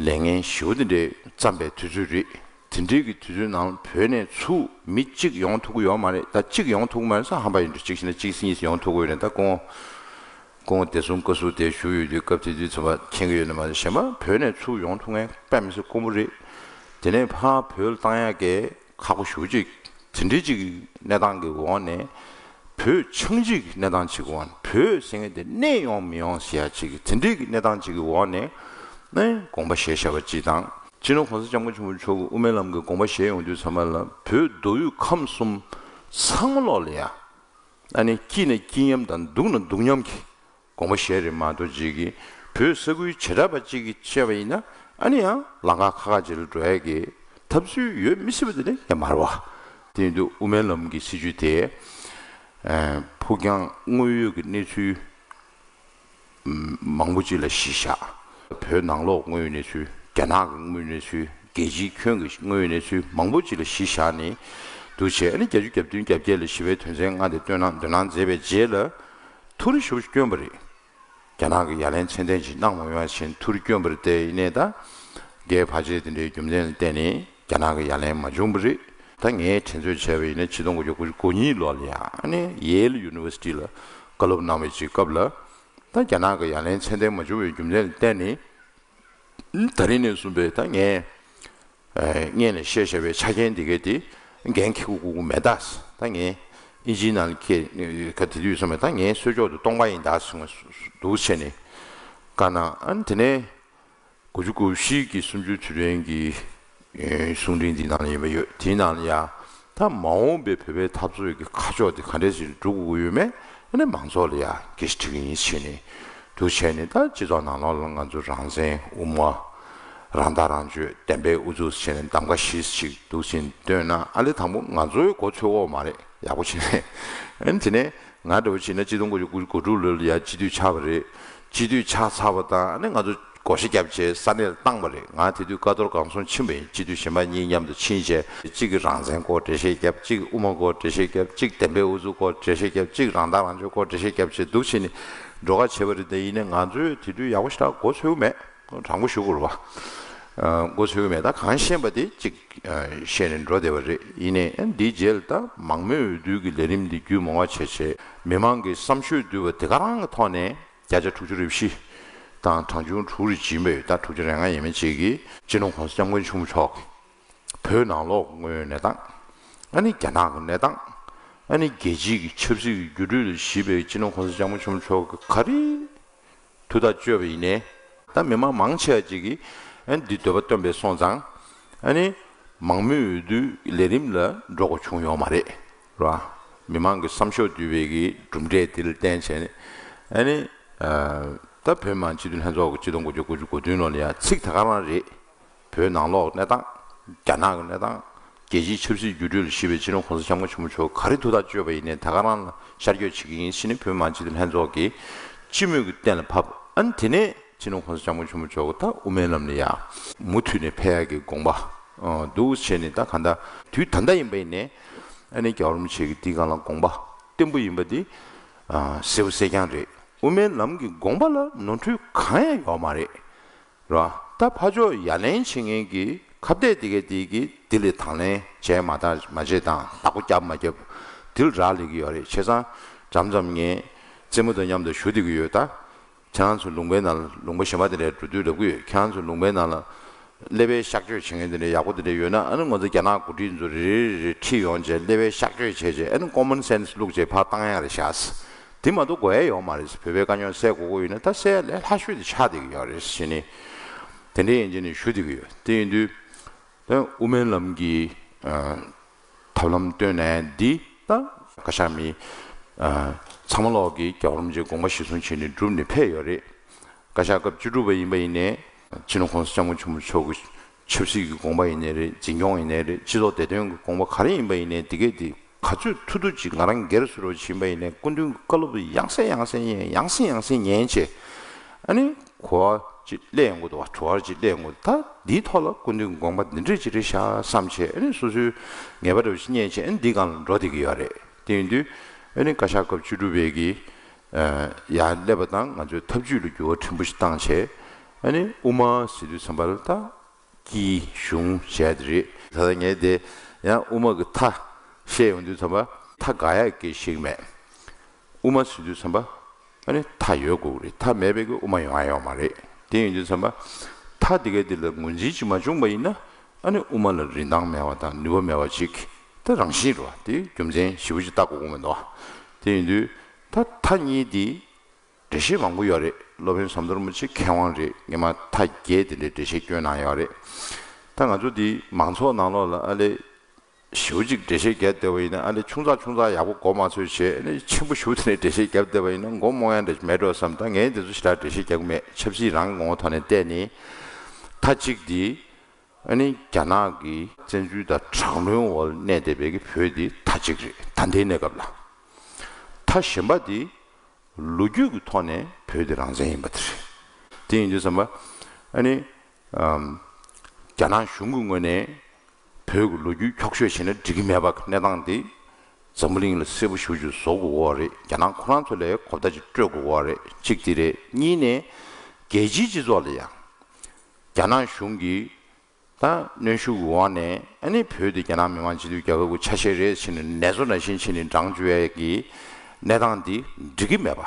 ལས་ངན་བཞི་བོ་དེ་འདྲས་བརྩམས་པའི་དུས་ཚོད་རེད། དེ་འདྲས་ཀྱི་དུས་ཚོད་ནང་བོད་ནས་ཚུ་མི་གཅིག་ཡོང་ཐུག་གི་ཡོད་མ་རེད་ད་གཅིག་ཡོང་ཐུག་གི་མ་རེད་ས་ཧམ་པ་ཡིན་འགྲོ་གཅིག་ཤི་ན་གཅིག་གཉིས་ཡོང་ཐུག་གི་ཡོད་རེད་ད་དཀོན། དགོངས་བདེ་སྲུང་བཀའ་ཟུར་དེ་བཞུགས་ཡོད་དུས་སྐབས་དེ་དུས་ཚོད་མ་མཁྱེན་གི་ཡོད་ནི་མ་རེད་ཞེ་མ་བོད་ནས་ཚུགས་ཡོང་ཐུགས་ངན་པད་མི་སེ་དཀོན་པོ་རེད་དེ་ནས་ཕ་བོད་ཏང་ཡག་གེ་ཁག་པོ་བཞུགས་ཅིག་དེ་འདྲི་ཅིག་གནས་སྟངས་གི་འོག་ནས་བོད་ཆང་ཅིག་གི་གནས་སྟངས་ཅིག་འོག་བོད་སེང་གེ་དེ་གནས་ཡོང་མི་ཡོང་ཟེར་ཡག་ཅིག་དེ་འདྲི་གི་གནས་སྟངས་ཅིག་གི་འོག་ནས་ནས་དགོངས་པ་བཞེས་ཤ་བ་ཅིག་དང། སྤྱི་ནོར་གོང་ས་སྐྱབས་མགོན་ཆེན་པོ་མཆོག་གི་དབུ་མའི་ལམ་གི་དགོངས་པ་བཞེས་ཡོང་དུས་ཚང་མ་ལ་བོད་མདོ་དབུས་ཁམས་གསུམ་ཚང་མ་ལོག་ལེ་ཡ་ཨ་ནི་སྐྱིད་ན་སྐྱིད་མཉམ་དང་སྡུག་ན་སྡུག་མཉམ་གྱི་དགོངས་པ་གཞན་རེ་མ་རྡོ་རྗེ་གི་བུ་ས་ཁུལ་བྱེ་བྲག་པ་གཅིག་གིས་བཤད་པ་ཡིན་ན་ཨ་ནི་ཡང་ལང་ཁ་ཁ་ཁ་བྱེད་ལ་འགྲོ་ཡ་གི་ཐབས་ཚུལ་ཡོད་མི་སྲིད་པ་དེ་ནི་ཡ་མར་བ་དེ་ཡིན་འདུག་དབུ་མའི་ལམ་གྱི་སྲིད་བྱུས་དེ་ཕུགས་རྒྱང་དངོས་ཡོད་ཀྱི་གནས་ཚུལ། མང་པོ་ཅིག་ལ་གཞི་བཞག་བོད་ནང་ལོགས་དངོས་ཡོད་གནས་ཚུལ་རྒྱ་ནག་གི་དངོས་ཡོད་གནས་ཚུལ་རྒྱལ་སྤྱིའི་ཁྱོན་གྱི་དངོས་ཡོད་གནས་ཚུལ་མང་པོ་ཅིག་ལ་གཞི་བཞག་ནས་འདུ་བྱས་ཨ་ནི་བརྒྱ་ཅུ་གྱ་བདུན་གྱ་བརྒྱད་ལ་ཞི་བའི་དོན་ཚན་ལྔ་དེ་བཏོན་གནང་འདོན་གནང་མཛད་པའི་རྗེས་ལ་ཐུགས་རེ་ཞུ་བར་བསྐྱོན་པ་རེད། རྒྱ་ནག་གི་ཡ་ལན་ཚད་ལྡན་ཅིག་གནང་མ་མྱོང་བ་བཞིན་ཐུགས་རེ་བསྐྱོན་པ་རེད་དེ་ནས་ད་གའི་བར་ཆད་དེ་འདྲའི་རྒྱུ་མཚན་ལ་བརྟེན་ནས། རྒྱ་ནག་གི་ཡ་ལན་མ་བྱུང་བ་རེད། ད་ངས་དྲན་གསོས་བྱས་པ་ཡིན་ན་ཕྱི་སྟོང་དགུ་བརྒྱ་དགུ་ཅུ་གོ་གཉིས་ལོར་ཡཱ་ཡེལ་ཡུ་ནི་ཝེ་སི་ཏི་ལ་བཀའ་སློབ་གནང་བའི་ཆེད་སྐབས་ལ། ད་རྒྱ་ནག་གི་ཡ་ལན་ཚད་ལྡན་མ་བྱུང་བའི་རྒྱུ་མཚན་ལ་བརྟེན་ནས། ད་རིང་ནས་བཟུང་བས་ད་ངས་བརྙན་ལས་བཤད་བྱ་བའི་ཆ་རྐྱེན་འདི་གས་དེ་འགན་ཁེ་གུ་གུ་གུ་མེད་ད་ཟེར། ད་ངས་ཨིན་ཇིའི་ནང་ལ་ཁེ་ག་དེ་དུས་སོང་བས་ད་ངས་གསོལ་ཅོག་ཏུ་སྟོང་པ་ཡིན་ད་ཟེར་བ་འདུག་བྱས་ནས་བཀའ་གནང། དེ་ནས། དགུ་བཅུ་དགུ་བཞི་གི་སུམ་ཅུའི་དུས་དྲན་གྱི་གསུང་འཕྲིན་འདི་ནང་ལ་ཡོད་པ་ཡོད་དེའི་ནང་ལ་ཡང་ད་མ་འོངས་པའི་བོད་པའི་འཐབ་རྩོད་ཀྱི་ཁ་ཕྱོགས་དེ་ག་འདྲའི་ཞིག་འགྲོ་དགོས་ཀྱི་ཡོད་མེད་ཨ་ནི་མང་ཚོགས་ལ་ཡང་དགེ་ཞིག་འཁྲི་གི་ཡིན་ཞེས་ནི་འདུག་བྱས་ནས་ད་སྤྱི་ཚོགས་ནང་ལོགས་ལ་ང་ཚོ་རང་བཙན་དབུ་མ་རང་ཐག་རང་གཅོད་བདེན་པའི་དབུ་ཚུགས་ཟེར་ནས་འདམ་ག་བཞི་ཞིག་འདུག་ཅེས་བཏོན་ན་ཨ་ལེ་དང་པོ་ང་ཚོའི་མགོ་ཚོད་འོག་མ་རེད་ཡག་པོ་བྱས་ཨ་ནི་དེ་ནས་ང་འདྲ་བོ་བྱས་ན་སྤྱི་སྟོང་དགུ་བཅུ་དགུ་དྲུག་ལོ་ལ་ཡང་སྤྱི་འཐུས་ཆགས་པ་རེད་སྤྱི་འཐུས་ཆགས་ཚར་བ་དང་ང་ཚོ་སྒོ་ཤེ་རྒྱབ་རྗེས་ས་གནས་ལ་བཏང་བ་རེད་ང་དེ་དུས་ཀ་རྡོར་སྒང་ཚོང་ཆེན་པོ་ཡིན་སྤྱི་འཐུས་གཞན་པ་གཉིས་མཉམ་དུ་ཕྱིན་རྗེས་གཅིག་གིས་རང་བཙན་སྐོར་འགྲེལ་བཤད་རྒྱབ་གཅིག་གིས་དབུ་མ་སྐོར་འགྲེལ་བཤད་རྒྱབ་གཅིག་བདེན་པའི་ཨུ་ཚུགས་སྐོར་འགྲེལ་བཤད་རྒྱབ་གཅིག་རང་ཐག་རང་གཅོད་སྐོར་འགྲེལ་བཤད་རྒྱབ་བྱས་འདུག་ཕྱིན་ནས་འགྲོ་ཁ་བྱེད་པ་རེད་དེ་ཡིན་ན་ང་ཚོས་དེ་དུས་ཡག་པོ་ཞིག་ལ་མགོ་འཚོས་ཀྱི་མེད། དྲང་པོ་ཞུ་དགོས་རེད་བ། མགོ་ཚོས་ཀྱི་མེད་ད་གང་ཤེས་པ་དེ་གཅིག་བཤད་ནས་འགྲོ་བསྡད་པ་རེད་ཡིན་ནའི་འདིའི་རྗེས་ད་མང་མོས་འོས་བསྡུ་གི་ལས་རིམ་འདི་རྒྱུས་མང་བ་བྱས་བྱས་མི་མང་གི་བསམ་ཤོས་བསྡུས་པ་དེ་ག་རང་གི་ཐོག་ནས་བརྒྱ་ཆ་དྲུག་ཅུ་རེ་བཞི་དང་གྲངས་ཆུང་དྲུག་རེ་སྦྱིན་པ་ཡོད་ད་དྲུག་ཅུ་རེ་ལྔ་ཡིན་མིན་བྱེད་ཀྱི། སྤྱི་ནོར ྋསྐྱབས་མགོན་ཆུང་མཆོག་གིས་བོད་ནང་ལོག་དངུལ་གནས་སྟངས། ཨ་ནི་རྒྱ་ནག་གི་གནས་སྟངས། ཨ་ནི་རྒྱལ་སྤྱིའི་གི་ཆབ་སྲིད་ཀྱི་འགྱུར་འགྲོས་ལ་གཞིས་པའི་སྤྱི་ནོར ྋསྐྱབས་མགོན་ཆུང་མཆོག་གིས་ག་རེ། དུ་དག་བཅོས་པ་ཡིན། ད་མི་མང་མང་ཆེ་བ་ཅིག་གིས་འདི་འདོད་པ་སྟོན་པས་སོང་ཙང། མང་མོས་འོས་བསྡུའི་ལས་རིམ་ལ་འགྲོ་དགོས་བྱུང་ཡོང་མ་རེད། མི་མང་གི་བསམ་ཤོག་བསྡུས་པའི་གྲུབ་འབྲས་དེ་ལ་བརྟེན་བྱས་ནས། ད་བོད་མི་མང་སྤྱི་འཐུས་ལྷན་ཚོགས་ཀྱི་སྤྱི་ཟླ་མགོ་བརྒྱད་དགུ་བཅུ་གོ་བདུན་ལོ་ལ་ཡང་ཚིག་ད་ག་རང་རེད། བོད་ནང་ལོག་གནས་སྟངས། རྒྱ་ནག་གི་གནས་སྟངས། རྒྱལ་སྤྱིའི་ཆབ་སྲིད་འགྱུར་འགྲོས་ལ་གཞིགས་པའི་ཕྱི་ནང་གོང་ས་ཆབ་མགོན་ཆེན་མོ་མཆོག་ག་རེ་ཐུགས་ཐག་གཅོད་པ་ཡིན་ནས་ད་ག་རང་ལ་ཤར་བསྐྱོད་བྱེད་ཀྱི་ཡིན་ཕྱི་ནས་བོད་མང་སྤྱི་འཐུས་ལྷན་ཚོགས་ཀྱིས་སྤྱི་མོས་ཀྱིས་གཏན་ལ་ཕབ་ཨ་ནི་དེ་ནས་ཕྱི་ནང་གོང་ས་ཆབ་མགོན་ཆེན་མོ་མཆོག་གི་ད་དབུ་མའི་ལམ་ནས་ཡ། མུ་མཐུད་ནས་འཕེལ་ཡག་གི་དགོངས་པ། འདུག་བྱས་ནས་ད་ག་ད། དུས་ད་ལྟ་ཡིན་པ་ཡིན་ནས་ཨ་ནི་རྒྱ་བོར་མི་བྱེད་ཀྱི་འདི་ག་ལ་དགོངས་པ་བརྟན་པོ་ཡིན་པ་འདི་གསལ་བོ་གསལ་རྐྱང་རེད་དབུ་མའི་ལམ་གྱི་དགོངས་པ་ལ་ནོར་འཁྲུལ་གང་ཡང་ཡོག་མ་རེད་རང་ད་ཕ་ཆོག་ཡ་ལན་བྱེད་མཁན་གྱི་ཁ་བརྡའི་དེ་གས་དེ་གི་དེ་ལས་དང་ལེན་བྱས་མ་ད་མ་བྱས་དང་བདག་པོ་བརྒྱབ་མ་བརྒྱབ་དིལ་རག་ལས་གི་ཡོད་རེད་བྱས་ཙང་འཇམ་འཇམ་ངས་རྩེད་མོ་དང་མཉམ་དུ་ཞུ་དེ་གི་ཡོད་ད་ཁྱེད་རང་ཚོ་ལུང་པའི་ནང་ལ་ལུང་པ་གཞན་པ་དེ་འདྲས་འགྲོ་དུས་ལབ་གི་ཡོད་ཁྱེད་རང་ཚོ་ལུང་པའི་ནང་ལ་ཀླད་པའི་གཤག་བཅོས་བྱེད་མཁན་དེ་འདྲས་ཡག་པོ་དེ་འདྲས་ཡོད་ན་ཨ་ནི་ང་ཚོ་རྒྱ་ནག་འགོ་ཁྲིད་ཚོ་རེ་རེ་རེ་རེ་ཁྲིད་ཡོང་བྱས་ཀླད་པའི་གཤག་བཅོས་བྱས་བྱས་ཨ་ནི common sense བླུགས་བྱས་ཕ་བཏང་ཡག་རེད་བྱས། དེ་མ་གཏོགས་གོ་ཡ་ཡོག་མ་རེད་ཟེར་བོད་པའི་དཀའ་རྙོག་སེལ་གོ་གོ་ཡོད་ན་ད་སེལ་ཡ་ལས་ལྷ་ཤོད་དེ་ཆགས་བསྡད་ཀྱི་ཡོག་རེད་ཟེར་ནི། དེ་འདྲའི་ཡན་ཆད་ནས་ཞུ་བསྡད་ཀྱི་ཡོད་དེ་ཡིན་དུས། ད་དབུ་མའི་ལམ་གྱི་ཐབས་ལམ་བཏོན་ནས་འདི་ད་བཀའ་ཤག་མི་ཚང་མ་ལོག་གི་རྒྱ་གོར་མཇེ་དགོངས་པ་གཞི་བཟུང་བྱས་ནས་བསྒྲུབས་ནས་ཕེབས་ཡོག་རེད། བཀའ་ཤག་སྐབས་བཅུ་དྲུག་པ་ཡིན་པ་ཡིན་ནས། ཕྱི་ནང་ཁོངས་སུ་སྤྱང་མོ་ཆུང་མོ་ཚོགས་ཀྱི་ཆབ་སྲིད་ཀྱི་དགོངས་པ་ཡིན་ནས་རེད་འཛིན་སྐྱོང་ཡིན་ནས་རེད་སྤྱི་ཚོགས་བདེ་དོན་གྱི་དགོངས་པ་ག་རེ་ཡིན་པ་ཡིན་ནས་འདི་སྐད་དེ་ག་ཚོད་ཐུ་ཐུ་ཅིག་ང་རང་སྒེར་བཟོ་རོགས་བྱིན་པ་ཡིན་ནས་སྐུ་མདུན་གྱི་བཀའ་སློབ་དེ་ཡང་གསན་ཡང་གསན་ཉན་ཡང་གསན་ཡང་གསན་ཉན་བྱས་ཨ་ནི་གོ་བ་ཅིག་གླས་ཡོང་གི་འདུག་བ་ཐུ་བར་ཅིག་གླས་ཡོང་གི་འདུག་ད་འདིའི་ཐོག་ལ་སྐུ་མདུན་གྱི་དགོངས་པ་འདི་འདྲས་ཅིག་རེད་ཤག་བསམ་བྱས་ཨ་ནི་སོ་སོའི་ངེས་པ་རེ་བ་ཞིག་རྙེད་བྱས་ཨ་ནི་འདི་སྒང་ལ་འགྲོ་བསྡད་ཀྱི་ཡོད་རེད་དེ་ཡིན་དུས་ཨ་ནི་བཀའ་ཤག་སྐབས་བཅུ་དྲུག་པའི་གི་ཡར་སླེབས་པ་དང་ང་ཚོའི་ཐབས་ཇུས་ལ་འགྱུར་བ་ཕྲན་བུ་ཞིག་བཏང་བྱས་ཨ་ནི་དབུ་མ་ཞེས་དུས་ཚོད་འབར་བའི་རྟགས་ཀྱི་གཞུང་བྱས་དེ་རེད། ད་ལྟ་ངས་དེ་ཡང་དབུ་མ་གི་མཐའ་བཤད་ཡོང་དུས་ཚོད་འབར་མཐའ་འགའ་ཡག་གི་ཞིག་མེད། དབུ་མ་ཟེར་དུས་ཚོད་འབར་ཨ་ནི་མཐའ་ཡོད་དགོས་ཀྱི་རེད་མཐའ་མེད་པའི་གི་དབུ་མ་ཡོང་ཨ་ཡོང་མ་རེད་དེ་ཡིན་དུས་ཚོད་འབར་མཐའ་དེ་གའི་དེ་ལ་ངོས་འཛིན་ཅིག་མ་བྱུང་བ་ཡིན་ན་ཨ་ནི་དབུ་མ་ལ་རིན་ཐང་མེད་བ་དང་ནུས་པ་མེད་བ་ཅིག་ད་རང་བཞིན་རེད་བ་དེ་རྒྱུ་མཚན་བཞི་བོ་ཅིག་བལྟ་དགོས་དགོས་མེད་འདུག་དེ་ཡིན་དུས་ད་མཐའ་གཉིས་དེ། འགྲེལ་བཤད་མང་པོ་ཡོད་རེད་སློབ་དཔོན་ཟམ་གདོང་རིན་པོ་ཆེ་མཁས་དབང་རེད་ངས་མ་མཐའ་རྒྱས་དེ་འདྲའི་འགྲེལ་བཤད་སྐྱོན་གནང་ཡོད་རེད། ད་ང་ཚོ་འདི་མང་ཚོགས་ནང་ལོགས་ལ་ཨ་ལེ་ཞུ་གཅིག་འགྲེལ་བཤད་བརྒྱབ་བསྡད་པ་ཡིན་ན་ཨ་ལེ་ཆུང་ཚག་ཆུང་ཚག་ཡག་པོ་མགོ་མ་ཚོས་བྱས་ཨ་ལེ་ཆེན་པོ་ཞུ་དེ་ནས་འགྲེལ་བཤད་བརྒྱབ་བསྡད་པ་ཡིན་ན་མགོ་རྨོངས་ཡ་འདྲ་ཞིག་མེད་འགྲོ་བསམ་ད་ངས་འདི་ཚོ་ཞི་དྲག་འགྲེལ་བཤད་རྒྱག་གི་མེད་ཆབ་སྲིད་རང་གི་ངོ་བོ་ཐོག་ནས་བལྟས་ནས་མཐའ་གཅིག་འདི་ཨ་ནི་རྒྱ་ནག་གི་བཙན་འཛུལ་དང་དྲག་གནོན་འོག་གནས་བསྡད་པའི་གི་བོད་འདི་མཐའ་གཅིག་རེད་ད་འདི་གནས་སྐབས་ལ་མཐའ་གཞན་པ་འདི་ལོ་རྒྱུས་ཀྱི་ཐོག་ནས་བོད་དེ་རང་བཙན་ཡིན་པ་དེ་རེད། དེ་ཡིན་དུས་བསམ་པ། ཨ་ནི། རྒྱ་ནག་གཞུང་གི་ངོས་ནས་བོད་ཀྱི་ལོ་རྒྱུས་འཁྱོག་བཤད་བྱས་ན་འགྲིག་གི་མེད་པ་གནས་སྟངས་དེ་འཛམ་བུ་གླིང་ལ་གསལ་པོ་ཞུ་རྒྱུ་བཟོ་དགོས་བོ་རེད་རྒྱ་ནག་ཁོ་རང་ཚོ་ལས་གོ་བརྡ་ཅིག་སྤྲོད་དགོས་བོ་རེད་གཅིག་དེ་རེད་གཉིས་ནས་རྒྱལ་སྤྱིའི་སྤྱི་ཚོགས་ལ་ཡང་རྒྱ་ནག་གཞུང་གིས་དང་གནོན་ཤུགས་འོག་ནས་ནི་བོད་དེ་རྒྱ་ནག་མི་དམངས་སྤྱི་མཐུན་རྒྱལ་ཁབ་ཀྱི་ཆ་ཤས་རེད་ཕྱིན་ནས་ནད་གསོ་ན་བཞིན་ཕྱིན་ནས་འབྲང་ཆུ་བས་ཀྱི་གནས་སྟངས་འདི་འགྲིག་གི་མེད་པ།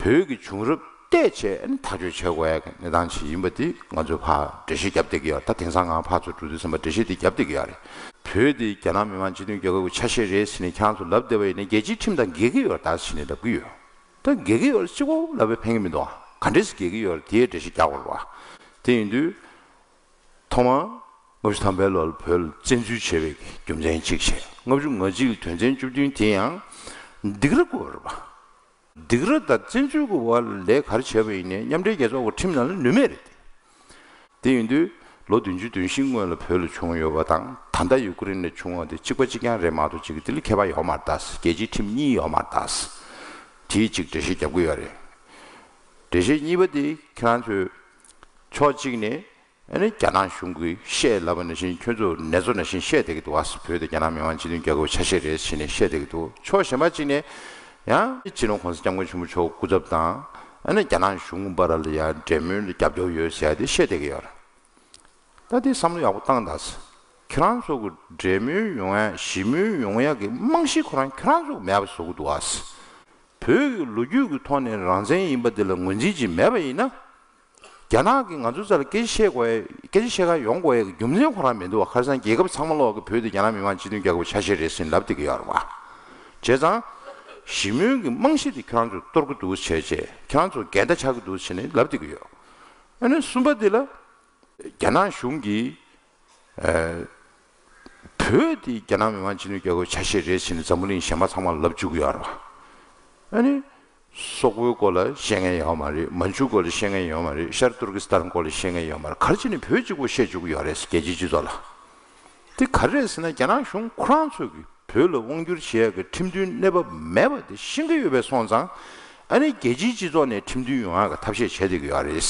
བོད་ཀྱི་བྱུང་རབས་བལྟས་ཆས་ནི་ཐག་གཅོད་བྱེད་དགོས་ཀྱི་གནས་སྟངས་ཤིག་ཡིན་པ་འདི་ང་ཚོས་ཕར་འགྲེལ་བཤད་རྒྱབ་སྟེགས་ཀྱི་ཡོད་ད་དེང་སང་ང་ཕར་ཚུར་འགྲོ་དུས་སེམས་པ་འགྲེལ་བཤད་འདི་རྒྱབ་སྟེགས་ཀྱི་ཡོད་རེད། བོད་དེ་རྒྱ་ནག་མི་དམངས་སྤྱི་མཐུན་རྒྱལ་ཁབ་ཀྱི་ཆ་ཤས་རེད་ཕྱིན་ནས་ཁྱང་ཚོ་ལབ་བདེ་བ་ཡིན་ནས་རྒྱལ་སྤྱིའི་ཁྲིམས་དང་འགལ་གྱི་ཡོད་ད་ཕྱིན་ནས་ལབ་ཀྱི་ཡོད། ད་རྒས་ཀི་ཡོད་རེད་ཅིག་ཨོ་ལ་བས་ཕན་གི་མི་འདུག་ཨ་ག་འདྲེ་ཞིག་རྒས་ཀི་ཡོད་རེད་དེའི་འདྲེ་ཞིག་རྒྱག་པར་བ་དེ་ཡིན་དུས། ཐོག་མར། ལྔ་བཅུ་ཐམ་པའི་ལོ་ལ་བོད་ལ་བཙན་འཛུལ་བྱས་པའི་རྒྱུ་མཚན་གཅིག་བྱས་ལྔ་བཅུ་ང་གཅིག་ལ་དོན་ཚན་བཅུ་བདུན་དེ་ཡང། སྡིག་ར་དགོས་རེད་བ། སྡིག་ར་དང་བཙན་འཛུལ་གི་བར་ལས་ག་རེ་བྱས་པ་ཡིན་ནས་མཉམ་འབྲེལ་རྒྱལ་ཚོགས་ཀྱི་ཁྲིམས་ནང་ལ་ནུས་མེད་རེད་དེ། དེ་ཡིན་དུས་ལོ་བདུན་ཅུ་དོན་བཞི་སྔོན་ལ་བོད་ལ་བྱུང་ཡོད་པ་དང་ད་ལྟ་ཡུ་ཀེ་རེན་ལ་བྱུང་བ་དེ་གཅིག་པ་གཅིག་རྐྱང་རེད་མ་གཏོགས་གཅིག་གི་དེ་ལས་ཁྱད་པར་ཡོག་མ་རེད་རེད་རྒྱལ་སྤྱིའི་ཁྲིམས་གཉིས་ཡོག་མ་རེད་རེད་དེའི་གཅིག་འགྲེལ་བཤད་རྒྱབ་དགོས་ཡོག་རེད། འགྲེལ་བཤད་གཉིས་པ་དེ་ཁྱེད་རང་ཚོས་ཕྱོགས་གཅིག་ནས་ཨ་རི་རྒྱ་ནག་གཞུང་གིས་བཤད་ལབ་པ་ནང་བཞིན་ཁྱོད་ཚོ་ནེ་ཙོ་ནང་བཞིན་བཤད་བསྡད་ཀྱི་འདུག་ཨ་བོད་དང་རྒྱ་ནག་མི་དམངས་སྤྱི་མཐུན་རྒྱལ་ཁབ་ཆ་ཤས་རེད་ཞེས་ནས་བཤད་བསྡད་ཀྱི་འདུག་ཕྱོགས་གཞན་པ་གཅིག་ནས་ཡང། སྤྱི་ནོར་གོང་ས་སྐྱབས་མགོན་ཆེན་པོ་མཆོག་སྐུ་ཚབ་དང། ཨ་ནི་རྒྱ་ནག་གཞུང་པ་ར་ལ་ཡར་འབྲེལ་མོལ་རྒྱབ་སྐྱོར་ཡོད་ཟེར་ཏེ་བཤད་བསྡད་ཀྱི་ཡོད་རེད། ད་དེ་བསམ་བློ་ཡག་པོ་བཏང་གདའ་ས། ཁྱོད་རང་ཚོ་གི་འབྲེལ་མོལ་ཡོང་ཡ་ཞི་མོལ་ཡོང་ཡ་གི་རྨང་གཞི་ཁོ་རང་ཁྱོད་རང་ཚོ་གི་མེད་པ་བཟོ་གི་འདུག་ག་ས། བོད་ཀྱི་ལོ་རྒྱུས་ཀྱི་ཐོག་ནས་རང་བཙན་ཡིན་པ་དེ་ལ་ངོས་འཛིན་བྱེད་མེད་པ་ཡིན་ན། རྒྱ་ནག་གིས་ང་ཚོ་རྩ་ལ་སྐད་ཆ་བཤད་དགོས་ཡ་སྐད་ཆ་བཤད་ཁ་ཡོང་དགོས་ཡ་གི་རྒྱུ་མཚན་ཁོ་རང་མི་འདུག་ག་ཁར་སང་རྒྱལ་ཁབ་ཚང་མ་ལོག་གི་བོད་དེ་རྒྱ་ནག་མི་དམངས་སྤྱི་མཐུན་རྒྱལ་ཁབ་ཆགས་བཞིན་རེད་ཟེར་ལབ་བསྡད་ཀྱི་ཡོད་རེད་བ། བྱས་ཙང། ཞི་མོལ་གྱི་རྨང་གཞི་དེ་ཁྱོད་ཚོས་གཏོར་གི་འདུག་བྱས་རྗེས་ཁྱོད་ཚོ་འགལ་ཟླ་ཆགས་ཀྱི་འདུག་བྱས་ནས་ལབ་སྡད་ཀྱི་ཡོད། ཨ་ནི་གསུམ་པ་དེ་ལ། རྒྱ་ནག་གཞུང་གིས། བོད་དེ་རྒྱ་ནག་མི་དམངས་སྤྱི་མཐུན་རྒྱལ་ཁབ་ཆ་ཤས་རེད་བྱས་ནས་འཛམ་བུ་གླིང་གཞན་པ་ཚང་མར་ལབ་བཅུག་གི་ཡོད་རེད། ཨ་ནི། སོག་པོའི་སྐོར་ལ་བཤད་མཁན་ཡོད་མ་རེད་མན་ཇུའི་སྐོར་ལ་བཤད་མཁན་ཡོད་མ་རེད་ཤར་ཏུར་ཀི་སི་ཐན་སྐོར་ལ་བཤད་མཁན་ཡོད་མ་རེད་ག་རེ་བྱས་ནས་བོད་གཅིག་པོ་བཤད་བཅུག་གི་ཡོད་རེད་རྒྱལ་སྤྱིའི་སྤྱི་ཚོགས་ལ། དེ་ག་རེད་ཟེར་ན་རྒྱ་ནག་གཞུང་ཁོ་རང་ཚོས་ཀྱི་བོད་ལ་དབང་བསྒྱུར་བྱེད་ཡག་གི་ཁྲིམས་མཐུན་གནས་བབ་མེད་པ་དེ་ཤེས་ཀྱི་ཡོད་པས་སོང་ཙང་ཨ་ནི་རྒྱལ་སྤྱིའི་སྤྱི་ཚོགས་ནས་ཁྲིམས་མཐུན་ཡོང་ཡག་གི་ཐབས་ཤེས་བྱེད་བསྡད་ཀྱི་ཡོད་རེད།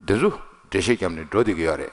དེ་ཚོ་འགྲེལ་བཤད་བརྒྱབ་ནས་འགྲོ་བསྡད་ཀྱི་ཡོད་རེད།